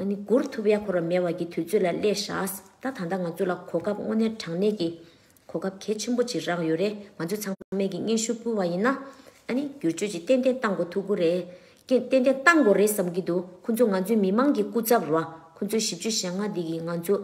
ནི་མགུར་ཐུབ་ཡ་ཁོ་ར་མེ་བ་གི་དུས་ཚོད་ལ་སླེ་ཞགས་ད་ད་ད་ང་ཚོ་ལ་གོ་སྐབས་དངོས་གནས་དྲངས་ནས་གི་གོ་སྐབས་གལ་ཆེན་པོ་ཅིག་རག་ཡོད་རེད་ང་ཚོས་ཚང་མས་གི་སྙན་ཞུ་ཕུལ་བ་ཡིན་ན་ཨ་ནི་བསྒྱུར་བཅོས་ཅིག་ཏན་ཏན་གཏང་དགོས་ཐུག་གུ་རེ་ཀན་ཏན་ཏན་གཏང་དགོས་རེད་བསམ་གི་འདུག་ཁོ་ཚོ་ང་ཚོའི་མི་མང་གི་སྐུ་ཚབ་ར་ཁོ་ཚོའི་ཞིབ་བཅོས་ཞལ་སྔ་འདི་གི་ང་ཚོ།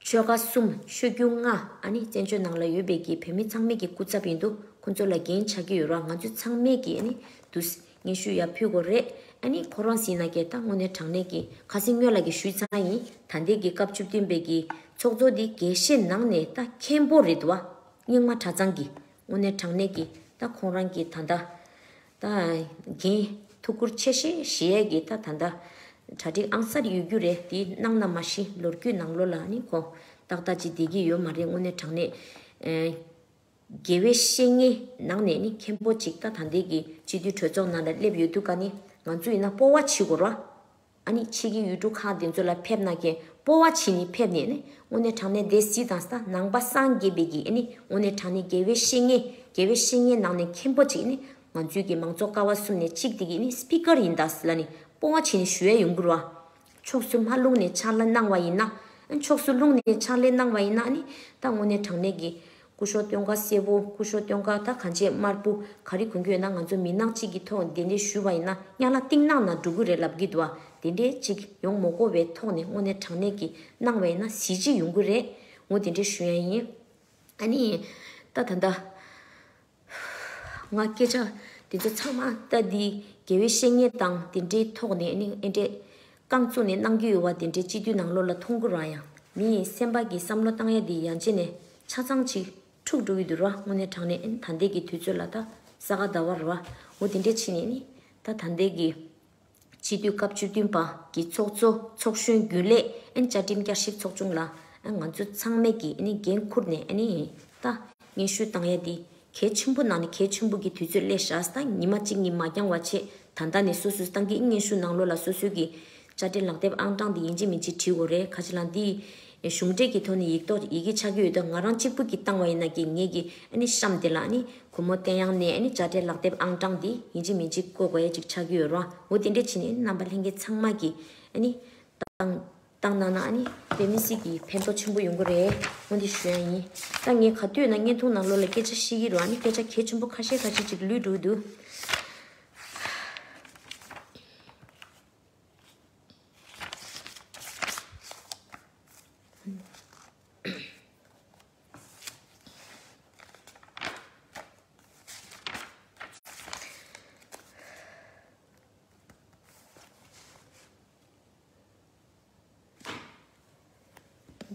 ཆོལ་ཁ་གསུམ་ཆོས་བརྒྱུད་ལྔ་ཨ་ནི་བཙན་བྱོལ་ནང་ལ་ཡོད་པའི་གི་བོད་མི་ཚང་མེད་ཀྱི་སྐུ་ཚབ་ཡིན་འདུག་ཁོ་ཚོ་ལ་འགན་ཆགས་ཀྱི་ཡོད་ར་ང་ཚོས་ཚང་མེད་ཀྱི་ཨ་ནི་དུ་སྙན་ཞུ་ཡག་ཕུལ་གོ་རེད་ཨ་ནི་ཁོ་རང་སྲིད་ན་སྐྱེར་ད་དངོས་གནས་དྲང་གནས་ཀྱི་ཁ་སིང་སྨྱོན་ལགས་ཀྱི་ཞུས་ཚང་ཡིན་ད་འདས་ཀྱི་སྐབས་བཅུ་བདུན་པའི་གི་ཚོགས་གཙོ་འདི་དགེ་བཤེས་ནང་ནས་ད་མཁན་པོ་རེད་འདུག་ཨ་སྙིང་མ་གྲ་ཚང་གི་དངོས་གནས་དྲང་གནས་ཀྱི་ད་ཁོང་རང་གི་ད་ད་ད་གིན། ཐུགས་ཁུར་ཆེ་ཞེས་གཞི་ཡས་ཀྱི་ད་ད་འདྲ། གྲ་སྒྲིག་ཨང་གསར་ཡོད་རྒྱུ་རེད་འདི་གནང་ན་མ་གཞི་ལོ་རྒྱུས་ནང་ལོ་ལ་ནི་གོ། ཏག་ཏག་ཅིག་བསྡད་ཀྱི་ཡོད་མ་རེད་དངོས་གནས་དྲང་གནས། དགེ་བའི་བཤེས་གཉེན་ནང་ནས་ནི་མཁན་པོ་ཅིག་ད་ད་འདས་ཀྱི་སྤྱི་འཐུས་གྲོས་ཚོགས་ནང་ལ་སླེབས་ཡོད་འདུག་ག་ནི་ང་ཚོ་ཡིན་ན་སྤོ་བ་བྱེད་དགོས་རོ། ཨ་ནི་ཕྱིས་ཀྱི་ཡུལ་གྲུ་ཁག་དེ་ཚོ་ལ་ཕེབས་ན་ཀྱི་སྤོ་བ་བྱེད་ནི་ཕེབས་ནས་ནི་དངོས་གནས་དྲང་གནས་སྡེ་སྲིད་དང་ས་ནང་པ་སངས་རྒྱས་པའི་ཀྱི་ཨ་ནི་དངོས་གནས་དྲང་གནས་དགེ་བའི་བཤེས་གཉེན་དགེ་བའི་བཤེས་གཉེན་ནང་ནས་མཁན་པོ་གཅིག་ནི་ང་ཚོའི་ཀྱི་མང་ཚོགས་ཀ་བ་གསུམ་ནས་གཅིག་དེ་ཀྱི་ཨ་ནི Speaker ཡིན་ད་ལ་ནི་སྤོ་བ་བྱེད་ནི་ཞུ་ཡ་ཡོང་གུར་བ། ཕྱོགས་སུ་མ་ལུང་ནས་ཕྱག་ལས་གནང་བ་ཡིན་ན། ཕྱོགས་སུ་ལུང་ནས་ཕྱག་ལས་གནང་བ་ཡིན་ན་ཨ་ནི་ད་དངོས་གནས་དྲང་གནས་ཀྱི་སྐུ་ཞོ་སྟོན་ཀ་སེར་པོ་སྐུ་ཞོ་སྟོན་ཀ་ད་ག་འབྱེད་དམར་པོ་ག་རེ་གོན་གྱི་ཡོད་ན་ང་ཚོ་མི་ནག་གཅིག་གི་ཐོག་འདི་འདྲས་ཞུས་པ་ཡིན་ན་གཉའ་ལ་ཏིང་གནང་ན་འགྲོ་གི་རེད་ལབ་གི་འདུག་དེ་འདྲས་གཅིག་ཡོང་མོ་ཀོ་བའི་ཐོག་ནས་དངོས་གནས་དྲང་གནས་ཀྱི་གནང་བ་ཡིན་ན་གཟི་བརྗིད་ཡོང་གི་རེད་ངོ་དེ་འདྲས་ཞུ་ཡ་ཡིན་ཨ་ནི་ད་ད་ད། ཧཧཧ་ཧཧ་ཧཧ་ཧཧ་ཧཧ་དགེ་བའི་བཤེས་གཉེན་དང་དེ་འདྲའི་ཐོག་ནས་ཨེ་འདྲས། རྐང་བཙུགས་ནས་གནང་རྒྱུ་ཡོད་བ་དེ་འདྲའི་སྤྱི་འཐུས་ནང་ལོགས་ལ་ཐུགས་འཁུར་རང་ཡང་མི་ཡིན་སེམས་པ་གིས་བསམ་བློ་བཏང་ཡ་འདི་ཡང་བྱས་ནས་ཆ་ཚང་ཅིག་འཁྲུག་འགྲོ་གི་འདུག་ར་དངོས་གནས་དྲང་ནས་ཨེ་ད་འདས་ཀྱི་དུས་ཚོད་ལ་ད་ས་ག་ཟླ་བ་ར་བོ་དེ་འདྲས་ཕྱིན་ནས་ཨེ་ད་ད་འདས་ཀྱི། ཕྱི་དུས་སྐབས་བཅུ་བདུན་པཀྱི་ཚོགས་གཙོ་ཚོགས་གཞོན་རྒྱུན་ལས་བཅའ་ཁྲིམས་བསྐྱར་ཞིབ་ཚོགས་ཆུང་ལ་ང་ཚོ་ཚང་མས་ཀྱིས་འགན་འཁུར་ནས་ད་སྙན་ཞུ་བཏང་ཡ་འདི་གལ་ཆེན་པོ་ནང་ནས་གལ་ཆེན་པོ་གྱི་དུས་ཚོད་སླེ་ཞགས་ད་ཉི་མ་གཅིག་གཉིས་མ་འགྱངས་བ་ཆེད་ད་ལྟ་ནས་སོ་སོས་ཏང་གི་སྙན་ཞུ་ནང་ལོ་ལ་སོ་སོའི་གྱི་བཅའ་ཁྲིམས་ལག་དེབ་ཨང་གྲངས་འདི་ཡིན་གྱི་མིན་གྱི་བྲིས་དགོས་རེད་ཁ་ཆེ་ལ་འདི་གཞུང་འབྲེལ་གྱི་ཐོག་ནས་ཡིག་ཐོག་ཡི་གེ་ཆགས་ཀྱི་ཡོད་དོ་ང་རང་གཅིག་པུ་གྱིས་བཏང་བ་ཡིན་ན་གི་ངེད་ཀྱི་གཤམ་དེ་ལ་ཁོ་མོ་བསྟན་གཡང་ནས་དཔྱ་ཁྲལ་ལག་དེབ་ཨང་གྲངས་འདི་ཡིན་གཅིག་མིན་གཅིག་བཀོད་དགོས་ཡ་གཅིག་ཆགས་ཀྱི་ཡོད་རོ་འོ་དེ་འདྲས་བྱས་ནས་རྣམ་པ་ལྷན་རྒྱས་ཚང་མ་གྱི་བཏང་གནང་ན་དཔེ་མི་སྲིད་ཀྱི་ཕན་ཐོག་ཆེན་པོ་ཡོང་གི་རེད་སྔོན་དུ་ཞུ་ཡང་ཡིན་ད་ངས་ག་དུས་ན་བརྙན་ཐུང་ནང་ལོག་ལ་སྐད་ཆ་བཤད་ཀྱི་རོ་སྐད་ཆ་གལ་ཆེན་པོ་ཁ་ཤས་ཁ་ཤས་ཅིག་ལུས་འགྲོ་གི་འདུག།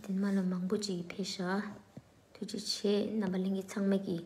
དེ་མ་ལ་མང་པོ་ཅིག་ཕེ་ཤ་ཐུགས་རྗེ་ཆེ་རྣམ་པ་གླིང་གི་ཚང་མ་གིས།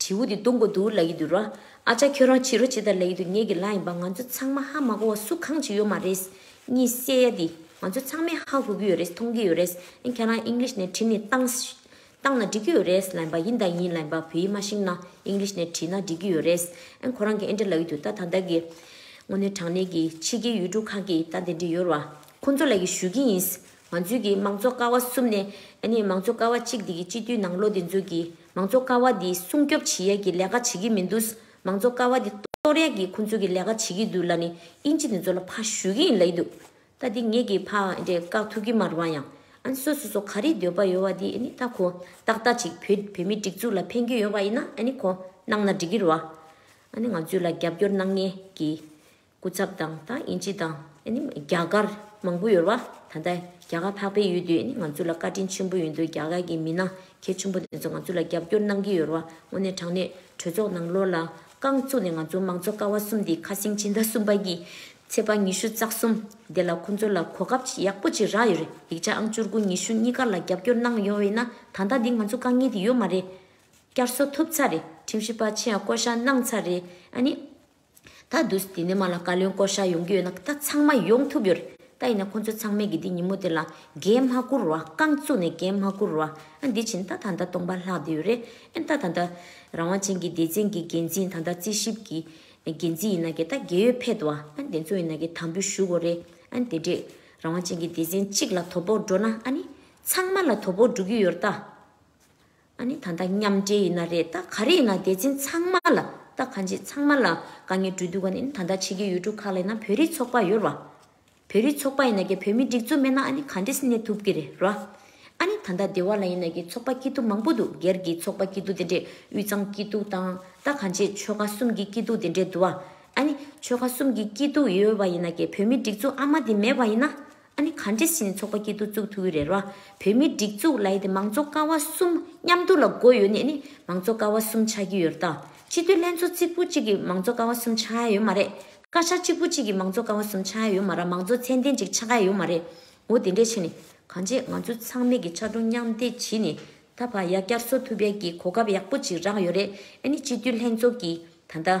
དྲིའུ་དེ་སྟོང་གོ་དུར་ལ་ཡི་དུར། ཨ་ཅག་ཁྱོད་རང་ཕྱི་རོ་ཇི་ལྟར་ལ་ཡི་དུར་ངེད་ཀྱི་ལག་ཡིན་པ་ང་ཚོ་ཚང་མ་ཧ་མ་གོ་བ་སུ་གང་ཅི་ཡོད་མ་རེད། གཉིད་སད་ཡ་འདི་ང་ཚོ་ཚང་མས་ཧ་གོ་གི་ཡོད་རེད་མཐོང་གི་ཡོད་རེད་ཨན་ཁྱེད་རང English ནས་བྲིས་ནས་བཏང་བཏང་ན་འགྲིག་གི་ཡོད་རེད་ལ་ཡིན་པ་ཡིན་དང་ཡིན་ལ་ཡིན་པ་བོད་ཡིག་མ་ཤེས་ན English ནས་བྲིས་ན་འགྲིག་གི་ཡོད་རེད་ཨན་ཁོ་རང་གི་ཨན་དྲ་ལ་ཡི་དུར་ད་ད་ལྟ་གི་དངོས་གནས་དྲང་གནས་ཀྱི་ཕྱི་རྒྱལ་ཡུལ་གྲུ་ཁག་གི་ད་དེ་འདྲ་ཡོད་ར་ཁོང་ཚོ་ལ་ཡི་ཞུ་གི་ཡིན་ང་ཚོས་ཀྱི་མང་གཙོ་ཀ་བ་གསུམ་ནི་ཨ་ནི་མང་གཙོ་ཀ་བ་གཅིག་དེ་གི་སྤྱི་འཐུས་ནང་ལོ་དེ་ཚོས་ཀྱི་མང་གཙོ་ཀ་བ་དེ་སྲུང་སྐྱོབ་བྱེད་ཡས་ཀྱི་ལས་ཀ་བྱེད་ཀྱི་མི་འདུག་མང་གཙོ་ཀ་བ་དེ་གཏོར་ཡས་ཀྱི་ཁོང་ཚོས་ཀྱི་ལས་ཀ་བྱེད་ཀྱི་འདུག་ལ་ནི་དབྱིན་ཇི་དེ་ཚོ་ལ་ཕ་ཞུས་ཀྱི་ཡིན་ལ་ཡི་འདུག་ད་དེ་ངས་ཀྱི་ཕ་འདྲེ་བཀག་ཐུབ་ཀྱི་མ་རུང་བ་ཡང་ཨ་ནི་སོ་སོ་སོ་ག་རིགས་འདོད་པ་ཡོད་བ་དེ་ཨ་ནི་ད་ཁོ་ཏག་ཏག་ཅིག་བོད་བོད་མི་སྒྲིག་འཛུགས་ལ་ཕན་གྱི་ཡོད་བ་ཡིན་ན་ཨ་ནི་ཁོ་གནང་ན་འགྲིག་གི་རུ་ཨ་ནི་ང་ཚོས་ལ་རྒྱབ་སྐྱོར་གནང་ངེས་ཀྱི་སྐུ་ཚབ་དང་ད་ཨིན་ཇི་དང་རྒྱ་གར་མང་པོ་ཡོད་རེད་བ་ད་ལྟ་རྒྱ་གར་འཕགས་པའི་ཡུལ་དུས་ང་ཚོ་ལ་བཀའ་དྲིན་ཆེན་པོ་ཡོད་འདུག་རྒྱ་གར་གྱི་མི་ནང་ཁྱེད་ཆུང་པོ་དེ་ཚོ་ང་ཚོ་ལ་རྒྱབ་སྐྱོར་གནང་གི་ཡོད་རེད་བ་དངོས་གནས་དྲང་གནས་གྲོས་ཚོགས་ནང་ལོར་ལ་རྐང་བཙུགས་ནས་ང་ཚོ་མང་གཙོ་ཀ་བ་གསུམ་དེ་ཁ་སེང་སྤྱི་ཟླ་གསུམ་པ་གྱི་ཚེས་པ་ཉི་ཤུ་རྩ་གསུམ་དེ་ལ་ཁོང་ཚོ་ལ་གོ་སྐབས་ཡག་པོ་ཅིག་རག་ཡོད་རེད་ཡིག་ཆ་ཨང་བཅུར་དགུ་ཉི་ཤུ་གཉིས་ཀ་ལ་རྒྱབ་སྐྱོར་གནང་ཡོང་བས་ན་ད་ལྟ་འདི་ང་ཚོ་དཀའ་ངལ་དེ་ཡོད་མ་རེད་བསྐྱར་གསོ་ཐུབ་ཚར་རེད་ཁྲིམས་ཞིབ་པ་ཆེ་ཡང་བསྐོ་བཞག་གནང་ཚར་རེད་ཨ་ནི། ད་དུ་ཟི་ལིང་མ་ལ་བཀའ་བློན་བསྐོ་བཞག་ཡོང་གི་ཡོད་ན་ད་ཚང་མ་ཡོང་ཐུབ་ཡོད་རེད་ད་ཡིན་ན་ཁོང་ཚོ་ཚང་མས་གི་དེ་ཉིན་མོ་དེ་ལ་འགན་མ་བསྐུར་བར་རྐང་བཙུགས་ནས་འགན་མ་བསྐུར་བར་ཨ་འདི་བྱིན་ད་ད་ལྟ་སྟོང་པ་ལྷག་བསྡད་ཡོད་རེད་ཨ་ད་ད་ལྟ་རང་དབང་ཅན་གྱི་སྡེ་ཚན་གྱི་འགན་འཛིན་ད་ལྟ་རྩིས་ཞིབ་ཀྱི་འགན་འཛིན་ཡིན་ན་གི་ད་རྒས་ཡོལ་ཕེད་དུ་ཨ་འདི་ཚོ་ཡིན་ན་གི་དམ་འབུལ་ཞུ་དགོས་རེད་ཨ་དེ་འདྲས་རང་དབང་ཅན་གྱི་སྡེ་ཚན་གཅིག་ལ་དོ་ཕོག་འགྲོ་ན་ཨ་ནི་ཚང་མ་ལ་དོ་ཕོག་འགྲོ་གི་ཡོད་རེད་ད། ཨ་ནི་ད་ལྟ་མཉམ་འབྲེལ་ཡིན་ན་རེད་ད་ག་རེ་ཡིན་ན་འདས་ཚིང་ཚང་མ་ལ་ད་ག་འཇིག་ཚང་མ་ལ་དཀའ་ངལ་འགྲོ་དུས་ག་ནས་ཨ་ནི་ད་ལྟ་ཕྱི་རྒྱལ་ཡུལ་གྲུ་ཁག་ལ་ཡིན་ན་བོད་རིགས་ཚོགས་པ་ཡོད་ར་བོད་རིགས་ཚོགས་པ་ཡིན་ན་གི་བོད་མི་སྒྲིག་འཛུགས་མེད་ན་ཨ་ནི་ག་འདྲེས་གནས་ཐུབ་གི་རེད་ར་ཨ་ནི་ད་ལྟ་སྡེ་བ་ལ་ཡིན་ན་གི་ཚོགས་པ་སྐྱིད་སྡུག་མང་པོ་འདུག་སྒེར་གྱི་ཚོགས་པ་སྐྱིད་སྡུག་དེ་འདྲས་དབུས་གཙང་སྐྱིད་སྡུག་དང་ད་ག་འཇིག་ཆོལ་ཁ་གསུམ་གྱི་སྐྱིད་སྡུག་དེ་འདྲས་འདུག་ཨ་ཨ་ནི་ཆོལ་ཁ་གསུམ་གྱི་སྐྱིད་སྡུག་ཡོད་པ་ཡིན་ན་གི་བོད་མི་སྒྲིག་འཛུགས་ཨ་མ་དེ་མེད་པ་ཡིན་ན་ཨ་ནི་ག་འདྲེ་སྲིད་ཚོགས་པ་སྐྱིད་སྡུག་བཙུགས་ཐུག་གི་རེད་རོ། བོད་མིའི་སྒྲིག་འཛུགས་ལ་ཡི་དེ་མང་གཙོ་ཀ་བ་གསུམ་མཉམ་འདུག་ལ་སྒོ་ཡོད་ནས་ནི་མང་གཙོ་ཀ་བ་གསུམ་ཆགས་ཀྱི་ཡོད་རེད་ད། སྤྱི་འཐུས་ལྷན་ཚོགས་གཅིག་པུ་གཅིག་གིས་མང་གཙོ་ཀ་བ་གསུམ་ཆགས་ཡ་ཡོད་མ་རེད། བཀའ་ཤག་གཅིག་པུ་གཅིག་གིས་མང་གཙོ་ཀ་བ་གསུམ་ཆགས་ཡ་ཡོད་མ་ར་མང་གཙོ་ཚད་ལྡན་གཅིག་ཆགས་ཡ་ཡོད་མ་རེད། འོ་དེ་འདྲས་ཕྱིན་ནི་གང་བྱེད་ང་ཚོས་ཚང་མེད་ཀྱི་ཕྱར་གྲུ་མཉམ་འདེགས་གྱིས་ནི་ད་བར་ཡ་བསྐྱར་གསོ་ཐུབ་ཡ་གི་གོ་སྐབས་ཡག་པོ་གཅིག་རག་ཡོད་རེད་ཨ་ནི་སྤྱི་འཐུས་ལྷན་ཚོགས་ཀྱིས་ད་ལྟ།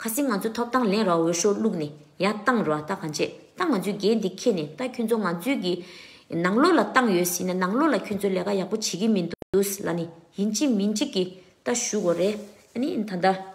ཁ་སིང་ང་ཚོའི་ཐོབ་ཐང་ལེན་རོགས་འོས་ཤོག་བླུག་ནས་ཡང་བཏང་རོགས་ད་གང་བྱེད་ད་ང་ཚོའི་རྒྱལ་འདི་ཁེ་ནས་ད་ཁྱོད་ཚོ་ང་ཚོའི་གི་ནང་ལོག་ལ་བཏང་ཡོད་སྲིད་ན་ནང་ལོག་ལ་ཁྱོད་ཚོ་ལས་ཀ་ཡག་པོ་བྱེད་གི་མི་འདུག་ལ་ནི་ཡིན་གཅིག་མིན་གཅིག་གི་ད་ཞུ་གོ་རེད་ཨ་ནི་ད་ད།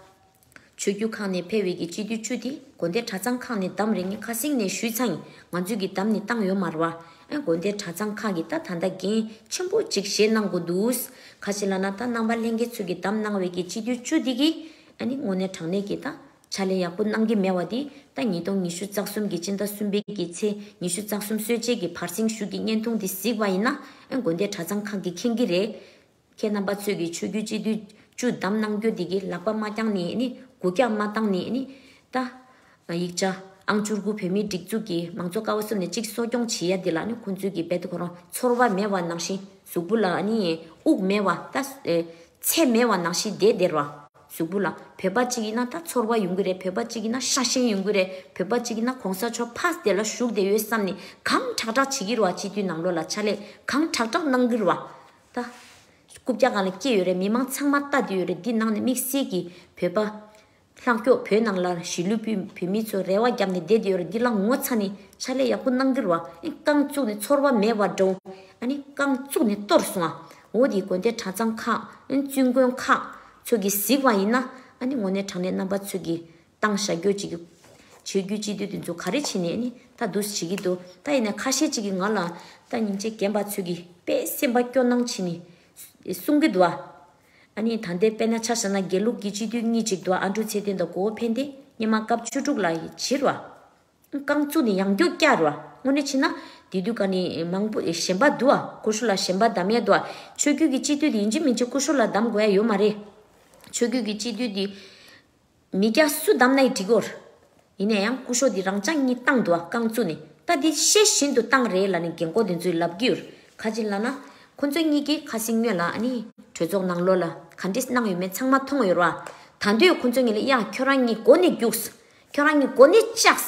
ཆོས་རྒྱུད་ཁག་ནས་ཕེ་བའི་གི་སྤྱི་འཐུས་བཅུ་དེ་དགོན་སྡེ་གྲྭ་ཚང་ཁག་ནས་བདམས་རེད་ངས་ཁ་སིང་ནས་ཞུས་ཚང་ང་ཚོའི་གི་བདམས་ནི་བཏང་ཡོད་མ་རེད་བ་ཨ་དགོན་སྡེ་གྲྭ་ཚང་ཁག་གི་ད་ད་ད་འགན་ཆེན་པོ་གཅིག་བཞེས་གནང་དགོས་འདུག་ཁ་ཤེ་ལ་ན་ད་རྣམ་པ་ལྷན་རྒྱས་ཚོས་གི་བདམས་གནང་བའི་གི་སྤྱི་འཐུས་བཅུ་དེ་གི་ཨ་ནི་དངོས་གནས་དྲང་གནས་ཀྱི་ད་ཆ་ལས་ཡག་པོ་གནང་གི་མེད་བ་དེ་ད་ཉིས་སྟོང་ཉི་ཤུ་རྩ་གསུམ་གྱི་སྤྱི་ཟླ་གསུམ་པའི་གི་ཚེ་ཉི་ཤུ་རྩ་གསུམ་སྲོལ་འབྱེད་ཀྱི་བར་གསེང་བཞུགས་ཀྱི་བརྙན་ཐུང་དེ་གཟིགས་པ་ཡིན་ན་ཨེ་དགོན་སྡེ་གྲྭ་ཚང་ཁག་གི་མཁན་གི་རེ་མཁས་རྣམ་པ་ཚོས་ཀྱི་ཆོས་བརྒྱུད་སྤྱི་འཐུས་བཅུ་བདམས་གནང་རྒྱུ་དེ་གི་ལག་པ་མ་བརྐྱངས་ནས་ནི་དགུ་བརྐྱངས་མ་བཏང་ནས་ནི་ད། ང་ཡིག་ཆ། ཨང་བཅུ་དགུ་བོད་མིའི་སྒྲིག་འཛུགས་ཀྱི་མང་གཙོ་ཀ་བ་གསུམ་ནས་གཅིག་གསོ་སྐྱོང་བྱེད་ཡ་འདི་ལ་ནི་ཁོང་ཚོའི་གི་བེད་ཁོ་རང་ཚོར་བ་མེད་བ་ནང་བཞིན་གཟུགས་པོ་ལ་ནི་དབུགས་མེད་བ་ལྟ། ཚད་མེད་བ་ནང་བཞིན་བདེ་བདེར་བ། གཟུགས་པོ་ལ་བོད་པ་གཅིག་ཡིན་ན་ད་ཚོར་བ་ཡོང་གི་རེད་བོད་པ་གཅིག་ཡིན་ན་ཤ་ཞེན་ཡོང་གི་རེད་བོད་པ་གཅིག་ཡིན་ན་གོང་ས་མཆོག་ཕགས་དེ་ལ་བཞུགས་དེ་ཡོད་བསམ་ནི་གང་དྲག་དྲག་བྱེད་ཀྱིར་བ་སྤྱི་འཐུས་ནང་ལོག་ལ་ཕྱག་ལས་གང་དྲག་དྲག་གནང་གིར་བ་ལྟ། རྐུབ་བཀྱག་གང་ལ་སྐྱེས་ཡོད་རེད་མི་མང་ཚང་མ་ལྟ་དེ་ཡོད་རེད་འདི་ནང་ནས་དམིགས་བསལ་གི་བོད་པ། ལྷག་ཀྱོག་བོད་ནང་ལ་གཞིས་ལུས་པུས་བོད་མི་ཚོས་རེ་བ་བརྒྱབ་ནས་བསྡད་ཡོད་རེད་འདི་ལ་ངོ་ཚ་ནས་ཕྱག་ལས་ཡག་པོ་གནང་རྒྱུར་བ་རྐང་བཙུགས་ནས་ཚོར་བ་མེད་བ་འདྲ་བོ་ཨ་ནི་རྐང་བཙུགས་ནས་གཏོར་སོང་ཨ་འོ་དེའི་དགོན་སྡེ་གྲྭ་ཚང་ཁག་བཙུན་དགོན་ཁག་ཚོས་ཀྱིས་གཟིགས་བ་ཡིན་ན་ཨ་ནི་ངོ་ནས་དྲང་གནས་རྣམ་པ་ཚོས་ཀྱིས་གཏང་ཞག་རྒྱོ་བྱེད་ཀྱི་བྱེད་རྒྱུ་སྤྱི་འཐུས་དེ་ཚོ་ག་རེ་བྱས་ནས་ཨ་ནི་ད་བསྡུ་བྱེད་ཀྱི་འདུག་ད་ཡིན་ན་ཁ་ཤས་ཅིག་གིས་ང་ལ་ད་ཉིན་རྗེ་རྒན་པ་ཚོས་ཀྱིས་དཔེ་སེམས་པ་སྐྱོ་སྣང་བྱས་ནས་གསུང་གི་འདུག་ཨ། ཨ་ནེ་ད་འདས་པས་ན་ཆ་ས་ན་དགེ་ལུགས་ཀྱི་སྤྱི་འཐུས་གཉིས་གཅིག་ཏུ་ཨ་འབྲུག་ཚེ་བརྟན་དང་གོ་བོ་ཕན་བདེ་སྙེ་མ་སྐབས་བཅུ་དྲུག་ལ་བྱིར་བ། རྐང་བཙུགས་ནས་ཡང་རྒྱུག་བསྐྱར་བ་དངོས་གནས་ཕྱིན་ན། དེ་དུས་ཀ་ནི་མང་པོ་ཞེན་པ་འདུག་ཨ་ཀུ་ཤུ་ལ་ཞེན་པ་གདམ་ཡས་འདུག་ཨ་ཆོས་རྒྱུད་ཀྱི་སྤྱི་འཐུས་དེ་ཡིན་གཅིག་མིན་གཅིག་ཀུ་ཤུ་ལ་གདམ་དགོས་ཡས་ཡོད་མ་རེད། ཆོས་རྒྱུད་ཀྱི་སྤྱི་འཐུས་དེ། མི་སྐྱ་སུ་བདམས་ན་ཡི་འགྲིག་གོ། ཡིན་ན་ཡང་སྐུ་ཞོ་འདི་རང་ཅག་གཉིས་ཏང་དུ་རྐང་བཙུགས་ནས་ད་འདི་ཤེས་བཞིན་དུ་ཏང་རེད་ལ་ནི་རྒན་ཁོག་དེ་ཚོའི་ལབ་རྒྱུར་ཁ་ཅིག་ལབ་ན། ཁོ་ཚོ་གཉིས་ཀྱིས་ཁ་སིང་སྨྱོས་ལ་ཨ་ནི་གྲོས་ཚོགས་ནང་ལོག་ལ་ག་འདྲི་གནང་ཡོད་མེད་ཚང་མ་མཐོང་ཡོད་རོགས་ཨ། ད་འདོད་ཁོ་ཚོ་ངེས་ལ་ཡ་ཁྱོད་རང་གཉིས་མགོ་ནས་རྒྱུགས། ཁྱོད་རང་གཉིས་མགོ་ནས་བཅགས།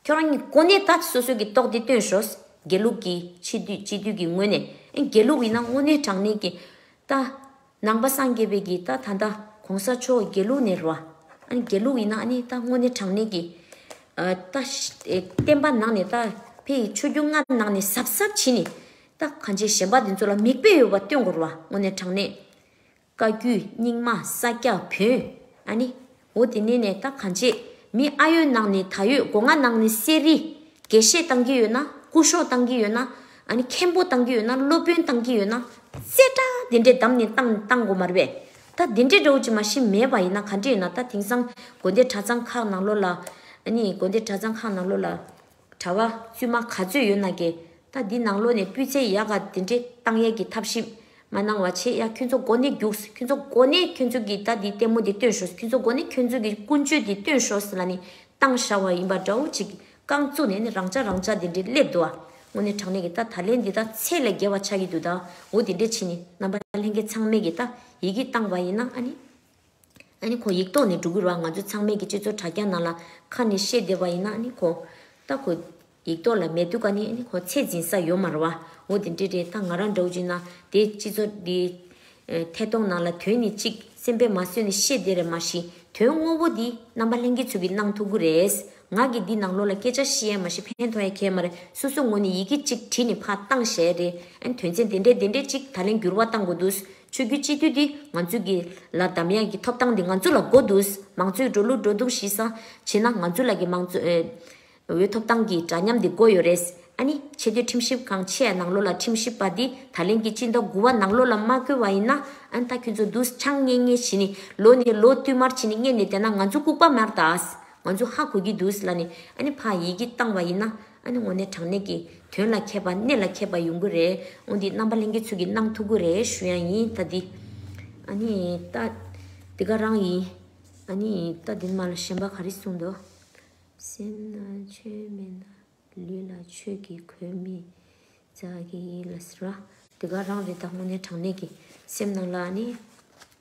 ཁྱོད་རང་གཉིས་མགོ་ནས་ད་སོ་སོའི་གི་ཏོག་དེ་བཏོན་ཞོགས། དགེ་ལུགས་ཀྱིས་ཕྱི་དུས་སྤྱི་དུས་ཀྱི་ངོས་ནས་ཨེ་དགེ་ལུགས་ཡིན་ན་དངོས་གནས་དྲང་གནས་ཀྱིས་ད། ནང་པ་སངས་རྒྱས་པའི་གིས་ད་ད་ད་གོང་ས་མཆོག་དགེ་ལུགས་ནས་རོ། དགེ་ལུགས་ཡིན་ན་ཨ་ནི་ད་དངོས་གནས་དྲང་གནས་ཀྱི། ད་བསྟན་པ་ནང་ནས་ད་ཕའི་ཡི་ཆོས་རྒྱུད་ལྔ་ནང་ནས་ཟབ་ཟབ་བྱིན་ནས། ད་གང་བྱེད་གཞན་པ་འདི་ཚོ་ལ་མིག་དཔེ་ཡོད་པ་སྟོན་དགོས་རོ་དངོས་གནས་དྲང་གནས། བཀའ་བརྒྱུད་རྙིང་མ་ས་སྐྱ་བོན་ཨ་ནི། འོ་དེ་ནས་ནས་ད་གང་བྱེད། མི་ཨ་ཡོད་ནང་ནས་ད་ཡོད་སྒོ་ང་ནང་ནས་གསེར་རི། དགེ་བཤེས་བཏང་གི་ཡོད་ན་སྐུ་ཞོག་བཏང་གི་ཡོད་ན། ཨ་ནི་མཁན་པོ་བཏང་གི་ཡོད་ན་སློབ་དཔོན་བཏང་གི་ཡོད་ན། བཙལ་དྲ་དེ་འདྲས་བདམས་ནས་བཏང་བཏང་དགོ་མ་རེད་པས། ད་དེ་འདྲས་འདྲའོ་ཅི་མ་ཤི་མེད་པ་ཡིན་ན་གང་འདྲས་ཡིན་ན་ད་དེང་སང་དགོན་སྡེ་གྲྭ་ཚང་ཁག་ནང་ལོ་ལ། ཨ་ནི་དགོན་སྡེ་གྲྭ་ཚང་ཁག་ནང་ལོ་ལ། གྲྭ་བ་བཙུན་མ་ག་ཚོད་ཡོད་ན་དགེ། ད་འདི་ནང་ལོ་ནས་སྤུས་ཚད་ཡག་ག་དེ་འདྲེ་བཏང་ཡས་ཀྱི་ཐབས་ཞིབ་མ་གནང་བ་ཆེ་ཡ་ཁྱོད་ཚོ་འགོ་ནས་རྒྱུགས་ཁྱོད་ཚོ་འགོ་ནས་ཁྱོད་ཚོ་གི་ད་འདི་ལྟད་མོ་འདི་སྟོན་ཤོས་ཁྱོད་ཚོ་འགོ་ནས་ཁྱོད་ཚོ་གི་ཀུན་སྤྱོད་འདི་སྟོན་ཤོས་ལ་ནི་བཏང་ཤ་བ་ཡིན་པ་འདྲ་བོ་ཅིག་རྐང་བཙུགས་ནས་ནི་རང་ཅག་རང་ཅག་འདི་འདྲེ་སླེབས་འདུག་ཨ་དངོས་ནས་དྲང་ནས་གི་ད་ད་ལན་འདི་ད་ཚད་ལས་བརྒལ་བ་ཆགས་ཀྱི་འདུག་ད་འོ་འདི་འདྲེ་ཕྱིན་ནི་རྣམ་པ་ལྷན་རྒྱས་ཚང་མས་གི་ད་ཡི་གི་བཏང་བ་ཡིན་ན་ཨ་ནི། ཨ་ནི་ཁོ་ཡིག་ཐོག་ནས་འབྲུ་གུ་རག་ང་ཚོ་ཚང་མས་ཀྱི་སྤྱི་ཚོགས་དྲ་རྒྱ་ནང་ལ་ཁ་ནས་བཤད་བདེ་བ་ཡིན་ན་ཨ་ནི་ཁོ། ད་ཁོ། ཡིག་ཐོག་ལ་མེད་འདུག་ག་ནི་ཨ་ནི་ཁོ་ཚད་འཛིན་ས་ཡོད་མ་རེད་བ། འོ་དེ་འདྲས་རེད་ད་ང་རང་འདྲ་བོ་ཅིག་ན་དེ་སྤྱི་ཚོགས་འདི། ཐད་གཏོང་ནང་ལ་དོན་ནི་གཅིག་སེམས་པས་མ་བཟོད་ནས་བཤད་བདེ་རེད་མ་གཞི་དོན་དངོས་པོ་འདི་རྣམ་པ་ལྷན་སྐྱེས་ཚོ་གི་གནང་ཐུབ་གི་རེད། ང་གི་འདི་ནང་ལོགས་ལ་སྐད་ཆ་བཤད་ཡ་མ་བཤད་ཕན་ཐོག་ཡ་ཁྱད་མ་རེད་སོ་སོ་ངོ་ནས་ཡི་གེ་གཅིག་བྲིས་ནས་ཕ་བཏང་ཞེས་རེད་ཨ་ནི་དོན་ཚན་དེ་འདྲས་དེ་འདྲས་གཅིག་ད་ལན་འགྱུར་བ་བཏང་དགོས་འདུག་ཆོས་རྒྱུད་སྤྱི་འཐུས་འདི་ང་ཚོའི་གི་ལ་དམ་ཡག་གི་ཐོབ་ཐང་འདི་ང་ཚོ་ལ་དགོ་འདུག་མང་གཙོའི་འགྲོ་ལུགས་འགྲོ་འདུག་ཤི་ས་བྱེད་ན་ང་ཚོའི་ལ་གི་མང་གཙོ་འི་ཐོབ་ཐང་གི་འདྲ་མཉམ་འདི་དགོ་ཡོད་རེད་ཨ་ནི་ཆེ་བསྟོད་ཁྲིམས་ཞིབ་ཁང་ཆེ་ཡ་ནང་ལོ་ལ་ཁྲིམས་ཞིབ་པ་འདི་ད་ལན་གི་སྤྱི་མདོ་དགུ་བ་ནང་ལོ་ལ་མ་བསྐོས་བ་ཡིན་ན་ཨན་ད་ཁྱོད་ཚོ་འདུག་ཆང་རྙེད་རྙེད་བྱེད་ནི་ལོ་ནི་ལོ་བསྟུད་མར་བྱེད་ནི་རྙེད་ནི་དེ་ན་ང་ཚོ་ལྐུག་པ་མར་དང་ང་ཚོ་ཧ་གོ་གི་འདུག་ལ་ནི་ཨ་ནི་ཕ་ཡིས་གི་བཏང་བ་ཡིན་ན། ཨ་ནི་ངོ་ནས་དྲང་གནས་ཀྱི། དོན་ལ་མཁས་པ་གནས་ལ་མཁས་པ་ཡོང་གི་རེད། འོན་ཏེ་རྣམ་པ་གླེང་གི་ཚུལ་གྱིས་གནང་ཐུག་གི་རེད་ཞུ་ཡང་ཡིན་ལྟ་འདི། ཨ་ནི་ལྟ། འདི་ག་རང་ཡིན། ཨ་ནི་ལྟ་འདི་མ་ལ་གཞན་པ་ག་རེ་གསུངས་འདུག། སེམས་ན་ཆོས་མེད་ན། ལུས་ལ་ཆོས་ཀྱི་གོས་མི་འཛག་གི་ཡིན་ལ། འདི་ག་རང་རེད་ད་ངོ་ནས་དྲང་གནས་ཀྱི། སེམས་ནང་ལ་ཨ་ནི།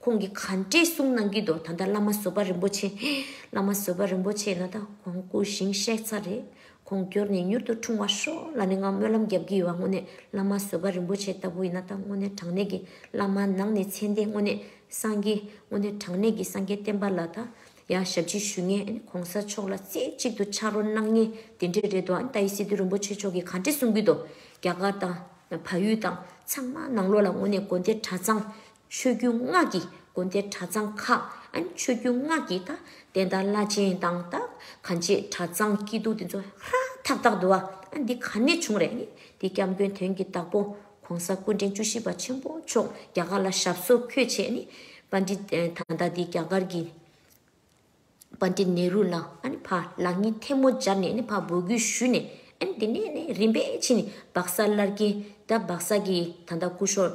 ཁོང་གིས་ག་འདྲས་གསུང་གནང་གི་འདུག་ད་ལྟ་བླ་མ་བཟོད་པ་རིན་པོ་ཆེ། བླ་མ་བཟོད་པ་རིན་པོ་ཆེ་ནི་ད་གོང་སྐུ་བཞེངས་གཤེགས་ཚར་རེད། ཁོང་འགྱུར་ནས་མྱུར་དུ་འཁྲུངས་བ་ཤོག་ལ་ནི་ང་སྨོན་ལམ་བརྒྱབ་ཀྱི་ཡོད་བ་དངོས་གནས་བླ་མ་བཟོད་པ་རིན་པོ་ཆེ་ལྟ་བུ་ཡིན་ན་ད་དངོས་གནས་དྲང་གནས་ཀྱི་བླ་མ་ནང་ནས་མཚན་ལྡན་དངོས་གནས་སངས་རྒྱས་དངོས་གནས་དྲང་གནས་ཀྱི་སངས་རྒྱས་བསྟན་པ་ལ་ད་ཡང་ཞབས་ཕྱི་ཞུ་ངེས་ཨ་ནི་གོང་ས་མཆོག་ལ་རྩེ་གཅིག་ཏུ་ཕྱག་རོགས་གནང་ངེས་དེ་འདྲས་རེད་འདུག་ཨ་ནི་ད་ཡིད་སྲིད་དུ་རིན་པོ་ཆེ་མཆོག་གིས་ག་འདྲས་གསུང་གི་འདུག་རྒྱ་གར་དང། བལ་ཡུལ་དང་ཚང་མ་ནང་ལོགས་ལ་དངོས་གནས་དགོན་སྡེ་གྲྭ་ཚང། ཆོས་རྒྱུད་སྔགས་ཀྱི་དགོན་སྡེ་གྲྭ་ཚང་ཁག་ཆོས་རྒྱུད་སྔགས་ཀྱི་ད་ལྟའི་ད་བླ་ཆེན་དང་ད་ག་འབྱེད་གྲྭ་ཚང་སྐྱིད་སྡུག་འདི་ཚོ་ཧ་ཐག་ཐག་འདུག་ཨ་འདི་ག་ནས་བྱུང་རེད་འདི་སྐྱབས་མགོན་དོན་གྱི་བདག་པོ ྋགོང་ས་སྐུ་ཕྲེང་བཅུ་བཞི་པ་ཆེན་པོ་མཆོག་རྒྱ་གར་ལ་ཞབས་སོར་འཁོད་བྱས་ནས་པ་འདི་ད་ལྟ་འདི་རྒྱ་གར་གྱི་པ་འདི་ནེ་རུ་ལ་ཕ་ལགས་གཉིས་ཐལ་མོ་སྦྱར་ནས་ཕ་འབོད་སྐུལ་ཞུས་ནས་དེ་ནས་རིམ་པས་ཕྱིན་སྦག་ས་སླར་གྱིན་ད་སྦག་ས་གྱི་ད་ལྟ་སྐུ་ཤོར་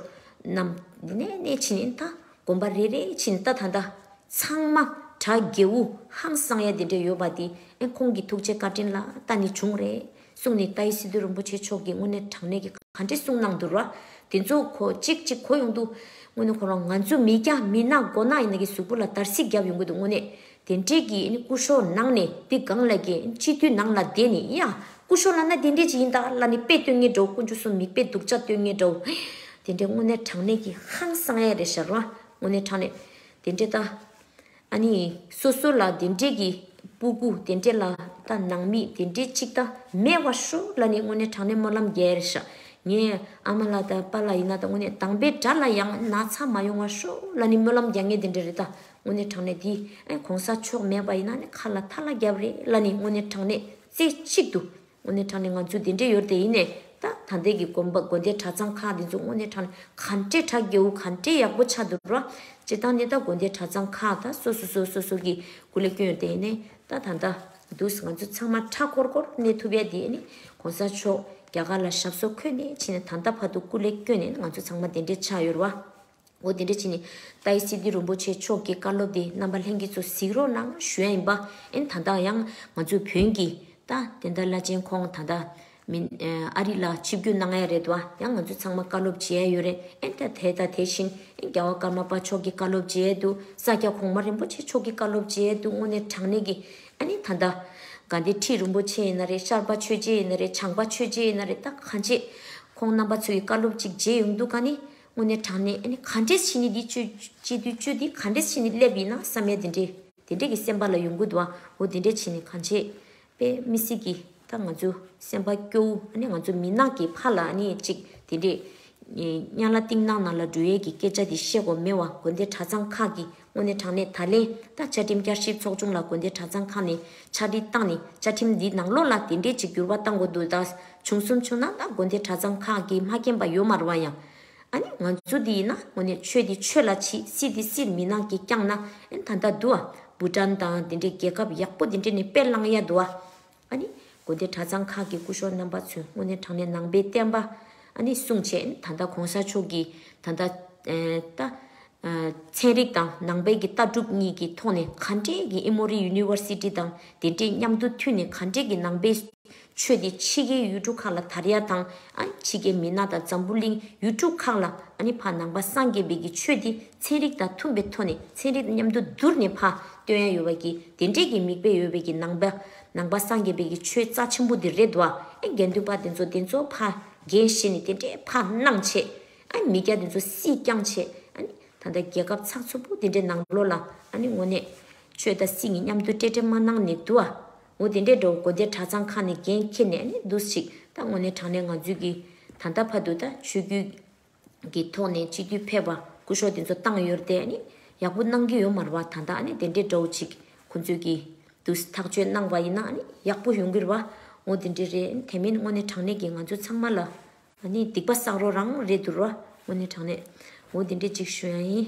རྣམས་དེ་ནས་ཕྱིན་ད་དགོན་པ་རེ་རེ་ཕྱིན་ད་ད་ལྟ་ཚང་མ་གྲྭ་རྒྱལ་བུ་ཧང་སང་ཡ་དེ་འདྲ་ཡོད་པ་དེ་ཁོང་གི་ཐུགས་རྗེ་བཀའ་དྲིན་ལ་ད་ནི་བྱུང་རེད། གསུང་ནི་ཏཱའི་སི་ཏུ་རིན་པོ་ཆེ་མཆོག་གིས་དངོས་གནས་དྲང་གནས་ཀྱི་ག་འདྲི་གསུང་གནང་འདུག་ར་དེ་ཚོ་གོ་གཅིག་གཅིག་གོ་ཡོང་འདུག་དངོས་གནས་ཁོ་རང་ང་ཚོ་མི་སྐྱ་མི་སྣ་མགོ་ནག་ཡིན་ན་གི་གཟུགས་པོ་ལ་དར་སིག་རྒྱབ་ཡོང་གི་འདུག་དངོས་གནས་དེ་འདྲས་ཀྱི་སྐུ་ཤོག་ནང་ནས་འདི་སྒང་ལ་གི་སྤྱི་འཐུས་ནང་ལ་བསྡད་ནས་ཡ་སྐུ་ཤོག་ལ་ན་དེ་འདྲས་ཅིག་ཡིན་ད་ལ་ནི་དཔེ་སྟོན་ངེས་འགྲོ་སྐུ་འཇུ་སོ་མིག་དཔེ་སྡུག་ཅག་སྟོན་ངེས་འགྲོ་དེ་འདྲས་དངོས་གནས་དྲང་གནས་ཀྱི་ཧང་སང་ཡ་རེད་ཤ་ར་དངོས་གནས་དྲང་གནས་དེ་འདྲས་ད། ཨ་ནི། སོ་སོ་ལ་དེ་འདྲས་ཀྱི། སྤུ་གུ་དེ་འདྲས་ལ་ད་ནང་མི་དེ་འདྲས་གཅིག་ད་མེད་བ་ཧྲུ་ལ་ནི་དངོས་གནས་དྲང་གནས་སྨོན་ལམ་རྒྱལ་ཞག་ངས་ཨ་མ་ལ་ད་པ་ལ་ཡིན་ན་ད་དངོས་གནས་དང་པའི་དགྲ་ལ་ཡང་ན་ཚ་མ་ཡོང་བ་ཧྲུ་ལ་ནི་སྨོན་ལམ་རྒྱག་ངེས་དེ་འདྲས་རེད་ད་དངོས་གནས་དྲང་གནས་དེ་ཨེ་གོང་ས་མཆོག་མེད་པ་ཡིན་ན་ནི་ཁ་ལ་ཐ་ལ་རྒྱབ་རེད་ལ་ནི་དངོས་གནས་དྲང་གནས་རྩེ་གཅིག་ཏུ། དངོས་གནས་དྲང་ནས་ང་ཚོའི་དེ་འདྲའི་ཡོད་དེ་ཡིན་ནས་ད་ད་འདས་ཀྱི་དགོན་པ་དགོན་སྡེ་གྲྭ་ཚང་ཁག་འདི་ཚོ་དངོས་གནས་དྲང་ནས་ག་འདྲའི་གྲ་རྒྱས་བོ་ག་འདྲའི་ཡག་པོ་ཆགས་འདུག་རོ། སྤྱིར་བཏང་ནི་ད་དགོན་སྡེ་གྲྭ་ཚང་ཁག་ད་སོ་སོ་སོ་སོ་སོ་གི་སྐུ་ལས་སྐྱོན་ཡོད་དེ་ཡིན་ནས་ད་ད་འདའ་འདུག་ང་ཚོ་ཚང་མ་ཁྲ་ཁོར་ཁོར་གནས་ཐུབ་ཡ་དེ་ཡིན་ནས་གོང་ས་མཆོག་རྒྱ་གར་ལ་ཞབས་སོར་འཁོད་ནས་ཕྱིན་ནས་ད་འདའ་བར་དུ་སྐུ་ལས་སྐྱོན་ནས་ང་ཚོ་ཚང་མ་དེ་འདྲའི་ཆགས་ཡོད་རོ། འོ་དེ་འདྲ་བྱས་ནས། ཏཱའི་སི་ཏི་རོན་པོ་ཆེ་མཆོག་གི་བཀའ་སློབ་དེ་རྣམ་པ་ལྷན་རྒྱས་ཚོ་གཟིགས་རོགས་གནང་ཞུ་ཡ་ཡིན་པ་ཨེ། ད་ལྟ་ཡང་ང་ཚོའི་བོན་གྱི་ད་དེ་འདྲ་བླ་ཆེན་ཁོང་ད་ད་མིན་ཨ་རི་ལ་ཆིབས་བསྒྱུར་གནང་ཡ་རེད་བ་ཡང་ང་ཚོ་ཚང་མ་བཀའ་སློབ་བྱེད་ཡ་ཡོད་རེད་ཨེ་ད་དེ་ད་དེ་བཞིན་ཨེ་རྒྱ་བ་ཀརྨ་པ་མཆོག་གི་བཀའ་སློབ་བྱེད་ཡ་འདུག་ས་སྐྱ་གོང་མ་རིན་པོ་ཆེ་མཆོག་གི་བཀའ་སློབ་བྱེད་ཡ་འདུག་དངོས་གནས་དྲང་གནས་ཀྱི་ཨ་ནི་ད་ད། དགའ་ལྡན་ཁྲི་རིན་པོ་ཆེ་ཡིན་ན་རེད་ཤར་པ་ཆོས་རྗེ་ཡིན་ན་རེད་བྱང་པ་ཆོས་རྗེ་ཡིན་ན་རེད་ད་གང་བྱེད། ཁོང་རྣམ་པ་ཚོ་ཡི་བཀའ་སློབ་ཅིག་བྱེད་ཡོང་འདུག་ག་ནི། དངོས་གནས་དྲང་གནས་ཨ་ནི་ག་འདྲས་ཕྱི་ནི་འདི་སྤྱོད་སྤྱི་དུས་སྤྱོད་འདི་ག་འདྲས་ཕྱི་ནི་སླེབ་ཡིན་ན་བསམ་མེད་དེ་འདྲས་དེ་འདྲས་ཀྱི་སེམས་པ་ལ་ཡོང་གི་འདུག་ཨ་འོ་དེ་འདྲས་ཕྱི་ནི་ག་འདྲས་པས་མི་སྲིད་ཀི་ད་ང་ཚོའི་སེམས་པ་སྐྱོ་བོ་ཨ་ནི་ང་ཚོ་མི་ནག་གི་ཕ་ལ་ཨ་ནི་ཅིག་དེ་འདྲས་གཉའ་ལ་གཏིང་ནག་ནག་ལ་འབྲུ་ཡལ་གྱི་སྐད་ཆ་དེ་བཤད་གོ་མེད་བ་དགོན་སྡེ་གྲྭ་ཚང་ཁག་གི་དངོས་གནས་དྲང་གནས་ད་ལན་ད་བཅའ་ཁྲིམས་བསྐྱར་ཞིབ་ཚོགས་ཆུང་ལ་དགོན་སྡེ་གྲྭ་ཚང་ཁག་ནས་ཕྱག་བྲིས་བཏང་ནས་བཅའ་ཁྲིམས་འདིའི་ནང་ལོགས་ལ་དེ་འབྲེལ་གྱི་འགྱུར་བ་བཏང་དགོས་འདུག་ད་བྱུང་གསུམ་བྱུང་ན་ད་དགོན་སྡེ་གྲྭ་ཚང་ཁག་གིས་མ་མཁྱེན་པ་ཡོད་མ་རུང་བ་ཡང། ཨ་ནི་ང་ཚོ་འདི་ཡིན་ན་དངོས་གནས་ཆོས་འདི་ཆོས་ལ་ཕྱིས་སྲིད་འདི་སྲིད་མི་ནག་གིས་བསྐྱངས་ན་ཨེ་ད་ད་འདུག་ཨ་བུ་ཀྲན་དང་དེ་འདྲའི་རྒྱལ་ཁབ་ཡག་པོ་དེ་འདྲས་ནས་དཔེ་བླངས་ཡ་འདུག་ཨ། ཨཱ་ནི། དགོན་སྡེ་གྲྭ་ཚང་ཁག་གི་སྐུ་ཞོགས་རྣམ་པ་ཚོས་སྔོན་ནས་དྲངས་ནས་ནང་པའི་བསྟན་པ། ཨཱ་ནི། བསྲུང་བྱེད་ད་ལྟ་གོང་ས་མཆོག་གིས་ད་ལྟ། ད། ཚན་རིག་དང་ནང་པའི་གི་ལྟ་གྲུབ་གཉིས་ཀྱི་ཐོག་ནས་ག་འདྲས་ཀྱི་ཨི་མོ་རི་ཡུ་ནི་ཝར་སི་ཏི་དང་དེ་འདྲས་མཉམ་དུ་མཐུན་ནས་ག་འདྲས་ཀྱི་ནང་པའི། ཆོས་དེ་ཕྱི་རྒྱལ་ཡུལ་གྲུ་ཁག་ལ་དར་ཡ་དང། ཨཱ་ནི། ཕྱི་རྒྱལ་མི་ནག་དང་འཛམ་བུ་གླིང་ཡུལ་གྲུ་ཁག་ལ་ཨཱ་ནི། ཕ་ནང་པ་སངས་རྒྱས་པའི་གི་ཆོས་དེ་ཚན་རིག་དང་མཐུན་པའི་ཐོག་ནས་ཚན་རིག་མཉམ་དུ་བསྡུར་ནས་ཕ་སྟོན་ཡ་ཡོད་པ་གྱི་དེ་འདྲས་ཀྱི་མིག་དཔེ་ཡོད་པའི་གྱི་ནང་པནང་པ་སངས་རྒྱས་པའི་གྱི་ཆོས་རྩ་ཆེན་པོ་འདི་རེད་བ་ཨེ་དགེ་འདུན་པ་དེ་ཚོ་དེ་ཚོ་ཕ་རྒན་བཞེས་ནས་དེ་འདྲས་ཕ་སྣང་བྱས་ཨ་མི་སྐྱ་དེ་ཚོ་སྲིད་བསྐྱངས་བྱས་ཨ་ནི་ད་ལྟ་རྒྱལ་ཁབ་ཚགས་ཚུད་པོ་དེ་འདྲས་ནང་ལོག་ལ་ཨ་ནི་ངོ་ནས་ཆོས་དང་སྲིད་གཉིས་མཉམ་དུ་སྤྲད་སྤྲད་མ་གནང་ནས་བསྡུ་བ་འོ་དེ་འདྲས་འགྲོ་དགོས་དེ་གྲ་ཚང་ཁག་ནས་འགན་འཁྱེར་ནས་ཨ་ནི་བསྡུ་ཞིག་ད་ངོ་ནས་དྲང་ནས་ང་ཚོས་གྱི་ད་ལྟ་ཕ་དུ་ད་ཆོས་རྒྱུད་གི་ཐོག་ནས་སྤྱི་འཐུས་ཕེབས་པ་སྐུ་ཞོག་དེ་ཚོ་བཏང་ཡོད་རེད་དེ། ཡག་པོ་གནང་གི་ཡོད་མ་རེད་བ་ད་ལྟ་དེ་འདྲའི་འདྲ་བོ་ཅིག་ཁོང་ཚོས་ཀྱི་འདུག་ཐག་གཅོད་གནང་བ་ཡིན་ན་ཡག་པོ་ཡོང་གི་རེད་བ་ངོ་དེ་འདྲའི་རེད་དེ་མིན་དངོས་གནས་དྲང་གནས་ཀྱི་ང་ཚོ་ཚང་མ་ལ་སྡིག་པ་བསགས་རོགས་རང་རེད་འདུག་རེད་བ་དངོས་གནས་དྲང་གནས་ངོ་དེ་འདྲའི་ཅིག་ཞུ་ཡང་ཡིན།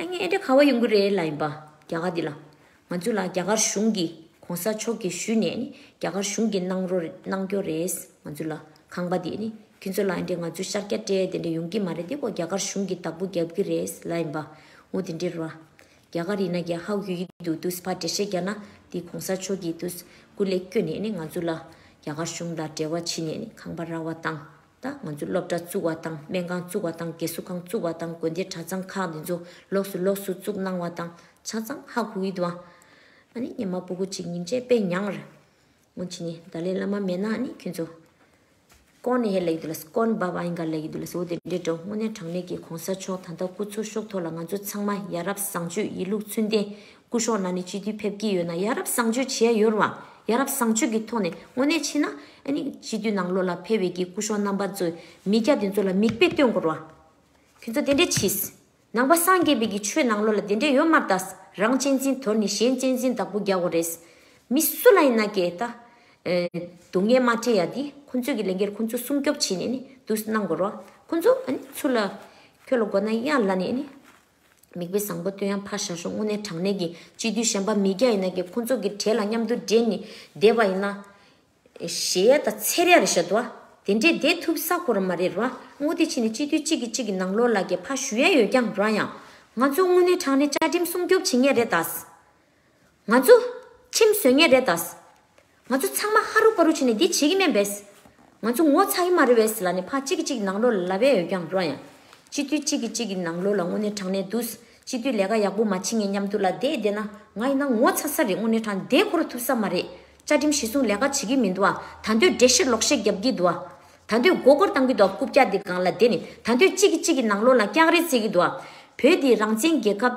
ཨ་མྱེས་ཨེ་འདྲ་ག་བ་ཡོང་གི་རེད་ལ་ཡིན་པ་རྒྱ་གར་འདི་ལ། ང་ཚོ་ལ་རྒྱ་གར་གཞུང་གིས་གོང་ས་མཆོག་གིས་ཞུས་ནས་ནི་རྒྱ་གར་གཞུང་གིས་གནང་རོ་གནང་རྒྱོ་རེད་ང་ཚོ་ལ་ཁང་པ་འདི་ནི་ཁྱོད་ཚོ་ལ་ཨེ་འདྲས་ང་ཚོ་ཤཱཀྱ་བཀྲས་དེ་འདྲས་ཡོང་གི་མ་རེད་དེ་ཁོ་རྒྱ་གར་གཞུང་གིས་བདག་པོ་རྒྱབ་གི་རེད་ལ་ཡིན་པ་ངོ་དེ་འདྲས་རོ། རྒྱ་གར་ཡིན་ན་རྒྱ་ཧ་གུ་ཡི་འདུག་དུས་ཕ་འདྲས་ཤེས་རྒྱ་ན་འདི་གོང་ས་མཆོག་གིས་དུས་སྐུ་ལས་བསྐྱོན་ནས་ནི་ང་ཚོ་ལ་རྒྱ་གར་གཞུང་ལ་འབྲེལ་བ་བྱེད་ནས་ནི་ཁང་པ་ར་བ་བཏང། ད་ང་ཚོས་སློབ་གྲྭ་བཙུགས་བ་དང་སྨན་ཁང་བཙུགས་བ་དང་རྒས་གསོ་ཁང་བཙུགས་བ་དང་དགོན་སྡེ་གྲྭ་ཚང་ཁག་འདི་ཚོ་ལོགས་སུ་ལོགས་སུ་བཙུགས་གནང་བ་དང་ཆ་ཚང་ཧ་གོ་གི་འདུག་ཨ་ཨ་ནི་ཉི་མ་སྤུ་གུ་ཅིག་ཉིན་བྱེད་དཔེ་མྱང་བར་སྔོན་ཆད་ནས་ད་ལེ་བླ་མ་མེད་ན་ནི་ཁྱོད་ཚོ། ཀོན་ནེ་ཧེ་ལ་ཡི་དུ་ལ་ས་ཀོན་བ་བ་ཡིན་ག་ལ་ཡི་དུ་ལ་ས་འོ་དེ་འདྲའི་འགྲོ་དངོས་གནས་དྲང་གནས་ཀྱི་གོང་ས་མཆོག་ད་ལྟ་སྐུ་འཚོ་ཤོག་ཐོག་ལ་ང་ཚོ་ཚང་མ་ཡ་རབས་བཟང་སྤྱོད་ཡིད་ལུགས་ཚུལ་ལྡན་སྐུ་གཞོགས་ན་ནས་སྤྱི་འཐུས་ཕེབས་ཀྱི་ཡོད་ན་ཡ་རབས་བཟང་སྤྱོད་བྱས་ཡོད་རུང་ཡ་རབས་བཟང་སྤྱོད་ཀྱི་ཐོག་ནས་དངོས་གནས་ཕྱིན་ན་ཨ་ནི་སྤྱི་འཐུས་ནང་ལོགས་ལ་ཕེབས་འོས་ཀྱི་སྐུ་གཞོགས་རྣམ་པ་ཚོས་མི་སྐྱ་དེ་ཚོ་ལ་མིག་དཔེ་སྟོན་དགོས་རུང་ཁྱོད་ཚོ་དེ་འདྲས་མཆིས། ནང་པ་སངས་རྒྱས་པའི་ཀྱི་ཆོས་ནང་ལོགས་ལ་དེ་འདྲས་ཡོད་མ་ད་ས་རང་གཅེས་འཛིན་དོར་ནས་གཞན་གཅེས་འཛིན་བདག་པོ་རྒྱག་དགོས་རེད། མི་སུ་ལ་ཡིན་ན་ཀྱེ་ད་སྡུག་བསྔལ་མ་སྤྲད་ཡ་དེ་ཁོ་ཚོས་ཀྱི་ལས་འགལ་ཁོ་ཚོ་སྲུང་སྐྱོབ་བྱེད་ནས་ནི་དུས་གནང་དགོས་རུང་ཁོ་ཚོ་ཨ་ནི་ཚུར་ལ་ཁྱོད་ལ་དགོས་ན་ཡ་ལ་ནས་ཨ་ནི། མིག་དཔེ་བཟང་པོ་སྟོན་ཡང་ཕར་བཞག་ཞོག་དངོས་གནས་དྲང་གནས་ཀྱི་སྤྱི་མཐུས་གཞན་པ་མི་བརྒྱ་ཡི་ནང་གི་ཁོང་ཚོ་གི་གྲས་ལ་མཉམ་དུ་བསྡད་ནི་བསྡད་པ་ཡིན་ན། གཞས་ཡ་དང་ཚེར་ཡ་རེད་ཤ་དུ་བ། དེ་འདྲས་བསྡད་ཐུབ་ས་ཁོ་ར་མ་རེད་རུ་བ་དངོས་དེ་ཕྱིན་ནས་སྤྱི་མཐུས་གཅིག་གི་གཅིག་གི་ནང་ལོག་ལ་གས་ཕ་ཞུ་ཡ་ཡོད་ཀྱང་རུ་བ་ཡང། ང་ཚོ་དངོས་གནས་དྲང་གནས་བཅའ་ཁྲིམས་སྲུང་སྐྱོབ་བྱེད་ངེས་རེད་དཱ། ང་ཚོ། ཁྲིམས་བཟོས་ངེས་རེད་དཱ། ང་ཚོ་ཚང་མ་ཧ་རུ་ཧྥ་རུ་བྱས་ནས་འདི་བྱེད་ཀྱི་མེད་པས། ང་ཚོ་ངོ་ཚ་གི་མ་རེད་བས་ལ་ནི་ཕ་གཅིག་གི་གཅིག་ནང་ལོ་ལ་བས་ཡོད་ཀྱང་རོ་ཡང། སྤྱི་འཐུས་གཅིག་གི་གཅིག་གི་ནང་ལོ་ལ་དངོས་གནས་དྲང་གནས་འདུག་སྤྱི་འཐུས་ལས་ཀ་ཡག་པོ་མ་བྱེད་ངེས་མཉམ་དུ་ལ་བསྡད་བསྡད་ན་ང་ཡིན་ན་ངོ་ཚ་ས་རེད་དངོས་གནས་དྲང་བདེན་ཁོ་རུ་ཐུབ་ས་མ་རེད་བཅའ་ཁྲིམས་གཞི་བཟུང་ལས་ཀ་བྱེད་ཀྱི་མི་འདུག་ཨ་ད་འདོད་བསྒྲེ་ཤེར་ལོག་ཤེར་རྒྱབ་ཀྱི་འདུག་ཨ་ད་འདོད་མགོ་སྐོར་བཏང་གི་འདུག་ཨ་རྐུབ་བཀྱག་དེ་སྒང་ལ་བསྡད་ནས་ད་འདོད་གཅིག་གི་གཅིག་གི་ནང་ལོ་ལ་སྐྱག་རེ་རྩེད་ཀྱི་འདུག་ཨ་བོད་འདི་རང་བཙན་རྒྱལ་ཁབ།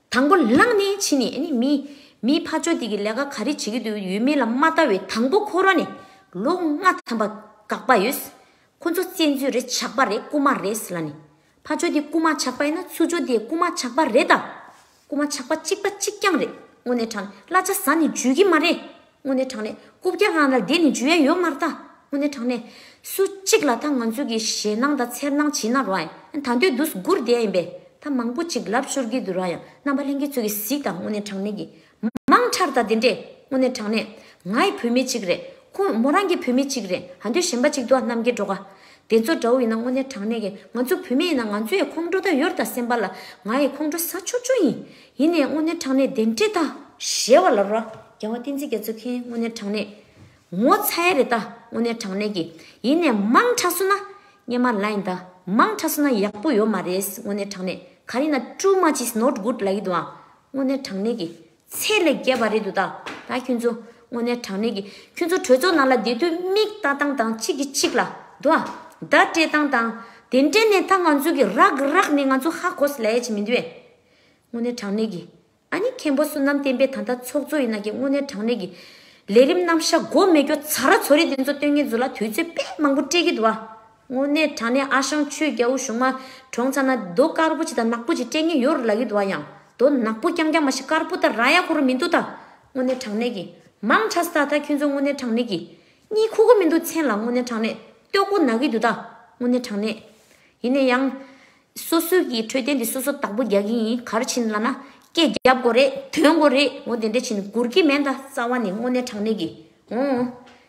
དང་པོ་ལངས་ནས་ཕྱིན་ནས་ནི་མི། མིའི་ཕ་ཆོས་སྡིག་གི་ལས་ཀ་ག་རེ་བྱེད་ཀྱི་འདུག་ཡོད་མེད་ལ་མ་བལྟ་བའི་དང་པོ་ཁོ་རང་ནི་ལོ་ལྔ་ཐམ་པ་འགག་པ་ཡོད། ཁོ་ཚོ་བཙན་འཛུལ་རེད་ཆགས་པ་རེད་རྐུ་མ་རེད་ཟེར་ལ་ནི། ཕ་ཆོས་འདི་རྐུ་མ་ཆགས་པ་ཡིན་ན་ཚུར་ཆོས་འདི་རྐུ་མ་ཆགས་པ་རེད་ད། རྐུ་མ་ཆགས་པ་གཅིག་པ་གཅིག་རྐྱང་རེད་དངོས་གནས་དྲང་བླ་ཆ་ཟ་ནི་འཇུས་ཀྱི་མ་རེད། དངོས་གནས་དྲང་གནས་སྐུ་བརྒྱ་ལྷག་ན་དེ་ནི་འཇུ་ཡ་ཡོད་མ་རྟ། དངོས་གནས་དྲང་གནས། སུ་གཅིག་ལ་ད་ང་ཚོས་ཀྱི་ཞེད་སྣང་དང་འཚེར་སྣང་བྱིན་ན་རང་ཡང་ད་འདོད་དུ་སྒུར་བསྡད་ཡིན་པས་ད་མང་པོ་ཅིག་ལབ་ཤོར་གྱི་འདུག་རང་ཡང་རྣམ་པ་ལྷན་སྐྱེས་ཚོས་ཀྱི་གཟིགས་དང་དངོས་གནས་དྲང་གནས་ཀྱི། མང་ཁྲར་ད་དེ་འདྲས་དངོས་གནས་དྲང་གནས། ངའི་བུད་མེད་ཅིག་རེད་ཁོང་མོ་རང་གི་བུད་མེད་ཅིག་རེད་ད་འདོད་གཞན་པ་ཅིག་འདུག་རྣམ་རྒྱལ་སྒྲོ་ག། དེ་ཚོ་འདྲ་བོ་ཡིན་ན་དངོས་གནས་དྲང་གནས་ཀྱི་ང་ཚོ་བུད་མེད་ཡིན་ན་ང་ཚོ་ཡི་ཁོང་ཁྲོ་ད་ཡོར་ད་སེམས་པ་ལ་ང་ཡི་ཁོང་ཁྲོ་ཟ་ཆོག་ཆོག་ཡིན། ཡེ་ནས་སྔོན་གནས་དྲང་གནས་བདེན་བྲལ་ལྟ། ཞེས་བ་ལ་རོ། རྒྱལ་བ་བསྟན་འཛིན་རྒྱ་མཚོའི་མཁན་སྔོན་གནས་དྲང་གནས། ངོ་ཚ་ཡེ་རེ་ལྟ་སྔོན་གནས་དྲང་གནས་ཀྱི། ཡེ་ནས་དམངས་ཁྲག་བསུ་ན་སྙན་མ་ལ་ཡིན་ལྟ། དམངས་ཁྲག་བསུ་ན་ཡག་པོ་ཡོད་མ་རེད་སྔོན་གནས་དྲང་གནས། ག་རེ་ན too much is not good ལ་ཡིད་དུའང་སྔོན་གནས་དྲང་གནས་ཀྱི། ཚད་ལས་བརྒལ་བ་རེད་འདུག་ད་ད་ཁྱོད་ཚོ་སྔོན་གནས་དྲང་གནས་ཀྱི། ཁྱོད་ཚོ་གྲོས་ཚོགས་ནང་ལ་བསྡད་དུས་མིག་ལྟ་སྟངས་དང་གཅིག་གིས་གཅིག་ལ་འདུ་བ་ཟླ་སྤྲད་སྟངས་དང། དེ་འདྲའི་ནས་ད་ང་ཚོ་གི་རག་རག་ནས་ང་ཚོ་ཧ་གོ་ས་ལས་ཅི་མི་འདུས། དངོས་གནས་དྲང་གནས་ཀྱི། ཨ་ནི་མཁན་པོ་བསོད་ནམས་བསྟན་པའི་ད་ལྟ་ཚོགས་གཙོ་ཡིན་ན་ཀྱེ་དངོས་གནས་དྲང་གནས་ཀྱི། ལས་རིམ་རྣམ་བཞག་མགོ་མེད་སྐྱོ་ཚ་ར་ཚོ་རེད་འདི་ཚོ་སྟོན་ངེས་ཚོ་ལ་དུས་ཚོད་དཔེ་མང་པོ་སྤྲད་ཀྱི་འདུག་ཨ། དངོས་གནས་དྲང་གནས་ཨ་ཞང་ཆོས་རྒྱལ་བོ་གཞུང་མ་གྲོངས་ཚར་ན་རྡོ་དཀར་པོ་ཅིག་དང་ནག་པོ་ཅིག་སྤྲད་ངེས་ཡོད་རེད་ལབ་ཡི་འདུག་ཨ་ཡང་རྡོ་ནག་པོ་རྐྱང་རྐྱང་མ་ཤི་དཀར་པོ་ད་ར་ཡ་ཁོ་རུ་མི་འདུག་ད། དངོས་གནས་དྲང་གནས་ཀྱི། མང་ཁྲ་སྟག་ད་ཁྱོད་ཚོ་དངོས་གནས་དྲང་གནས་ཀྱི། གཉིད་ཁུག་གི་མི་འདུག་མཚན་ལ་དངོས་གནས་དྲང་གནས་ལྟོས་གོ་ན་གི་འདུག་ད། དངོས་གནས་དྲང་གནས། ཡིན་ན་ཡང། སོ་སོའི་གི་འཕྲོད་བསྟེན་དེ་སོ་སོ་དག་པོ་རྒྱག་གི་ཡིན་གར་ཕྱིན་ལ་ན་སྐད་རྒྱབ་དགོ་རེད་དོན་དགོ་རེད་ངོ་དེ་འདྲས་ཕྱིན་དགོར་གི་མེད་ད་རྩ་བ་ནས་དངོས་གནས་དྲང་གནས་གི་འོང་ངོ།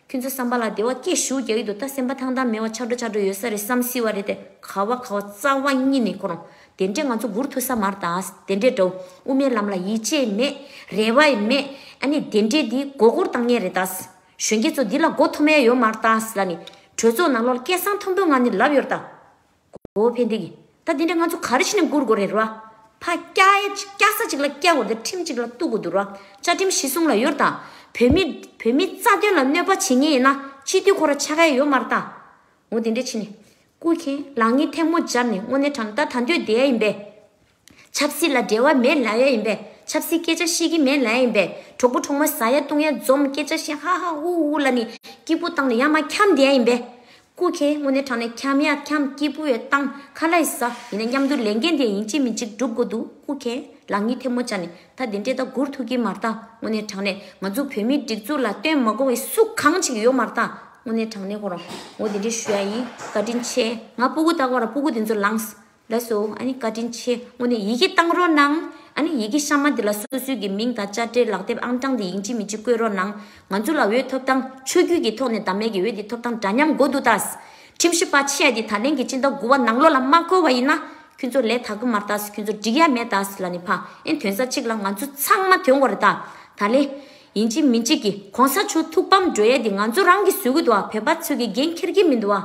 ཁྱོད་ཚོ་བསམ་པ་ལ་དེ་བ་སྐད་ཞུ་རྒྱག་གི་འདུག་ད་སེམས་པ་ཐང་ཐང་མེད་བ་ཆག་འགྲོ་ཆག་འགྲོ་ཡོད་ས་རེད་བསམ་སྲིད་བ་རེད་དེ་ག་བ་ག་བ་རྩ་བ་གཉིས་ནས་གོ་རོང་དེ་འདྲས་ང་ཚོ་སྒུར་ཐུབ་ས་མར་ད་དེ་འདྲས་འདྲའོ་དབུ་མའི་ལམ་ལ་ཡིད་ཆེས་མེད་རེ་བ་ཡི་མེད་ཨ་ནི་དེ་འདྲས་འདི་མགོ་སྐོར་བཏང་ངེས་རེད་ད་གཞོན་སྐྱེས་ཚོ་འདི་ལ་མགོ་མཐོ་མེད་ཡོད་མར་ད་ལ་ནི་གྲོས་ཚོགས་ནང་ལོག་སྐད་གསང་མཐོན་པོས་ང་ནི་ལབ་ཡོར་ད། གོ་བོ་ཕན་བདེ་གིས། ད་འདི་འདྲ་ང་ཚོ་ག་རེ་བྱས་ནས་འགུར་དགོ་རེད་ར། ཕ། སྐྱ་ས་ཅིག་ལ་སྐྱ་འགོར་ཏེ་ཁྲིམས་ཅིག་ལ་གཏུག་དགོ་འདུག་ར། བཅའ་ཁྲིམས་གཞི་བཟུང་ལ་ཡོད་ར། བོད་མི། བོད་མི་རྩ་དོན་ལ་གནོད་པ་བྱེད་ངེས་ཡིན་ན་སྤྱི་འཐུས་ཁོ་ར་ཆགས་ཁ་ཡོད་མ་ར་ད། ངོ་འདི་འདྲས་བྱས་ནས། སྐུ་མཁྱེན། ལག་གཉིས་ཐལ་མོ་སྦྱར་ནས་དངོས་གནས་དྲང་བདག་དང་དོད་བསྡད་ཡ་ཡིན་པས། ཆབ་སྲིད་ལ་འབྲེལ་བ་མེད་ལ་ཡ་ཡིན་པས་ཆབ་སྲིད་སྐད་ཆ་ཤེས་ཀྱི་མེད་ལ་ཡ་ཡིན་པས་གྲོགས་པོ་གྲོགས་མོ་ཟ་ཡ་བཏུང་ཡ་འཛོམས་སྐད་ཆ་བཤད་ཧ་ཧ་ཧུ་ཧུ་ལ་ནི་སྐྱིད་པོ་བཏང་ནས་ཡ་མ་འཁྱམས་བསྡད་ཡ་ཡིན་པས། ཀུ་ཁྱེད་དངོས་གནས་དྲང་ནས་འཁྱམས་ཡ་འཁྱམས་སྐྱིད་པོ་ཡོད་བཏང་ཁ་ལ་ཡི་ཟ་ཡིན་ན་མཉམ་དུ་ལས་འགན་དེ་ཡིན་གཅིག་མིན་གཅིག་བསྒྲུབ་དགོས་འདུག་ཀུ་ཁྱེད་ལག་གཉིས་ཐལ་མོ་བཅག་ནས་ད་དེ་འདྲས་ད་སྒུར་ཐུབ་ཀྱི་མ་རྟ་དངོས་གནས་དྲང་ནས་ང་ཚོ་བོད་མིའི་སྒྲིག་འཛུགས་ལ་བསྟོན་མ་དགོངས་བའི་སུ་གང་ཅིག་ཡོད་མ་རྟ་དངོས་གནས་དྲང་ནས་ཁོ་རང་ངོ་དེ་འདྲས་ཞུ་ཡ་ཡིན་བཀའ་དྲིན་ཆེ་ང་སྤུ་གུ་བཏགས་པ་ར་སྤུ་གུ་དེ་ཚོ་ལངས། ལགས་སོ། ཨ་ནི་བཀའ་དྲིན་ཆེ། དངོས་ནས་ཡི་གེ་བཏང་རོགས་གནང། ཨ་ནི་ཡི་གེ་གཤའ་མ་འདི་ལ་སོ་སོའི་གི་མིང་དང་དཔྱ་ཁྲལ་ལག་དེབ་ཨང་གྲངས་དེ་ཡིན་ཅི་མིན་ཅི་བཀོད་རོགས་གནང། ང་ཚོ་ལ་འོས་ཐོབ་ཐང་ཆོས་བརྒྱུད་ཀྱི་ཐོག་ནས་བདམས་མེད་ཀྱི་འོས་དེ་ཐོབ་ཐང་འདྲ་མཉམ་མགོ་འདུག་ད། ཁྲིམས་ཞིབ་པ་ཆེ་འདི་ད་ལན་གྱི་སྤྱི་ཟླ་དགུ་བ་ནང་ལོག་ལ་མ་བཀོལ་བ་ཡིན་ན། ཁྱོད་ཚོ་ལས་ད་གི་མར་ད་ཁྱོད་ཚོ་འགྲིག་ཡ་མེད་ད་ལ་ནི་ཕ་ཨེ་དོན་ས་ཅིག་ལ་ང་ཚོ་ཚང་མ་དོན་གོ་རེ་ད། ད་ལན། ཡིན་ཅི་མིན་ཅི་གི་གོང་ས་མཆོག་ཐུགས་ཕམ་སྒྲོལ་ཡ་འདི་ང་ཚོ་རང་གི་ཟོལ་གི་འདུག་བ་བོད་པ་ཚོས་གི་འགན་འཁྱེར་གྱི་མིན་འདུག་བ།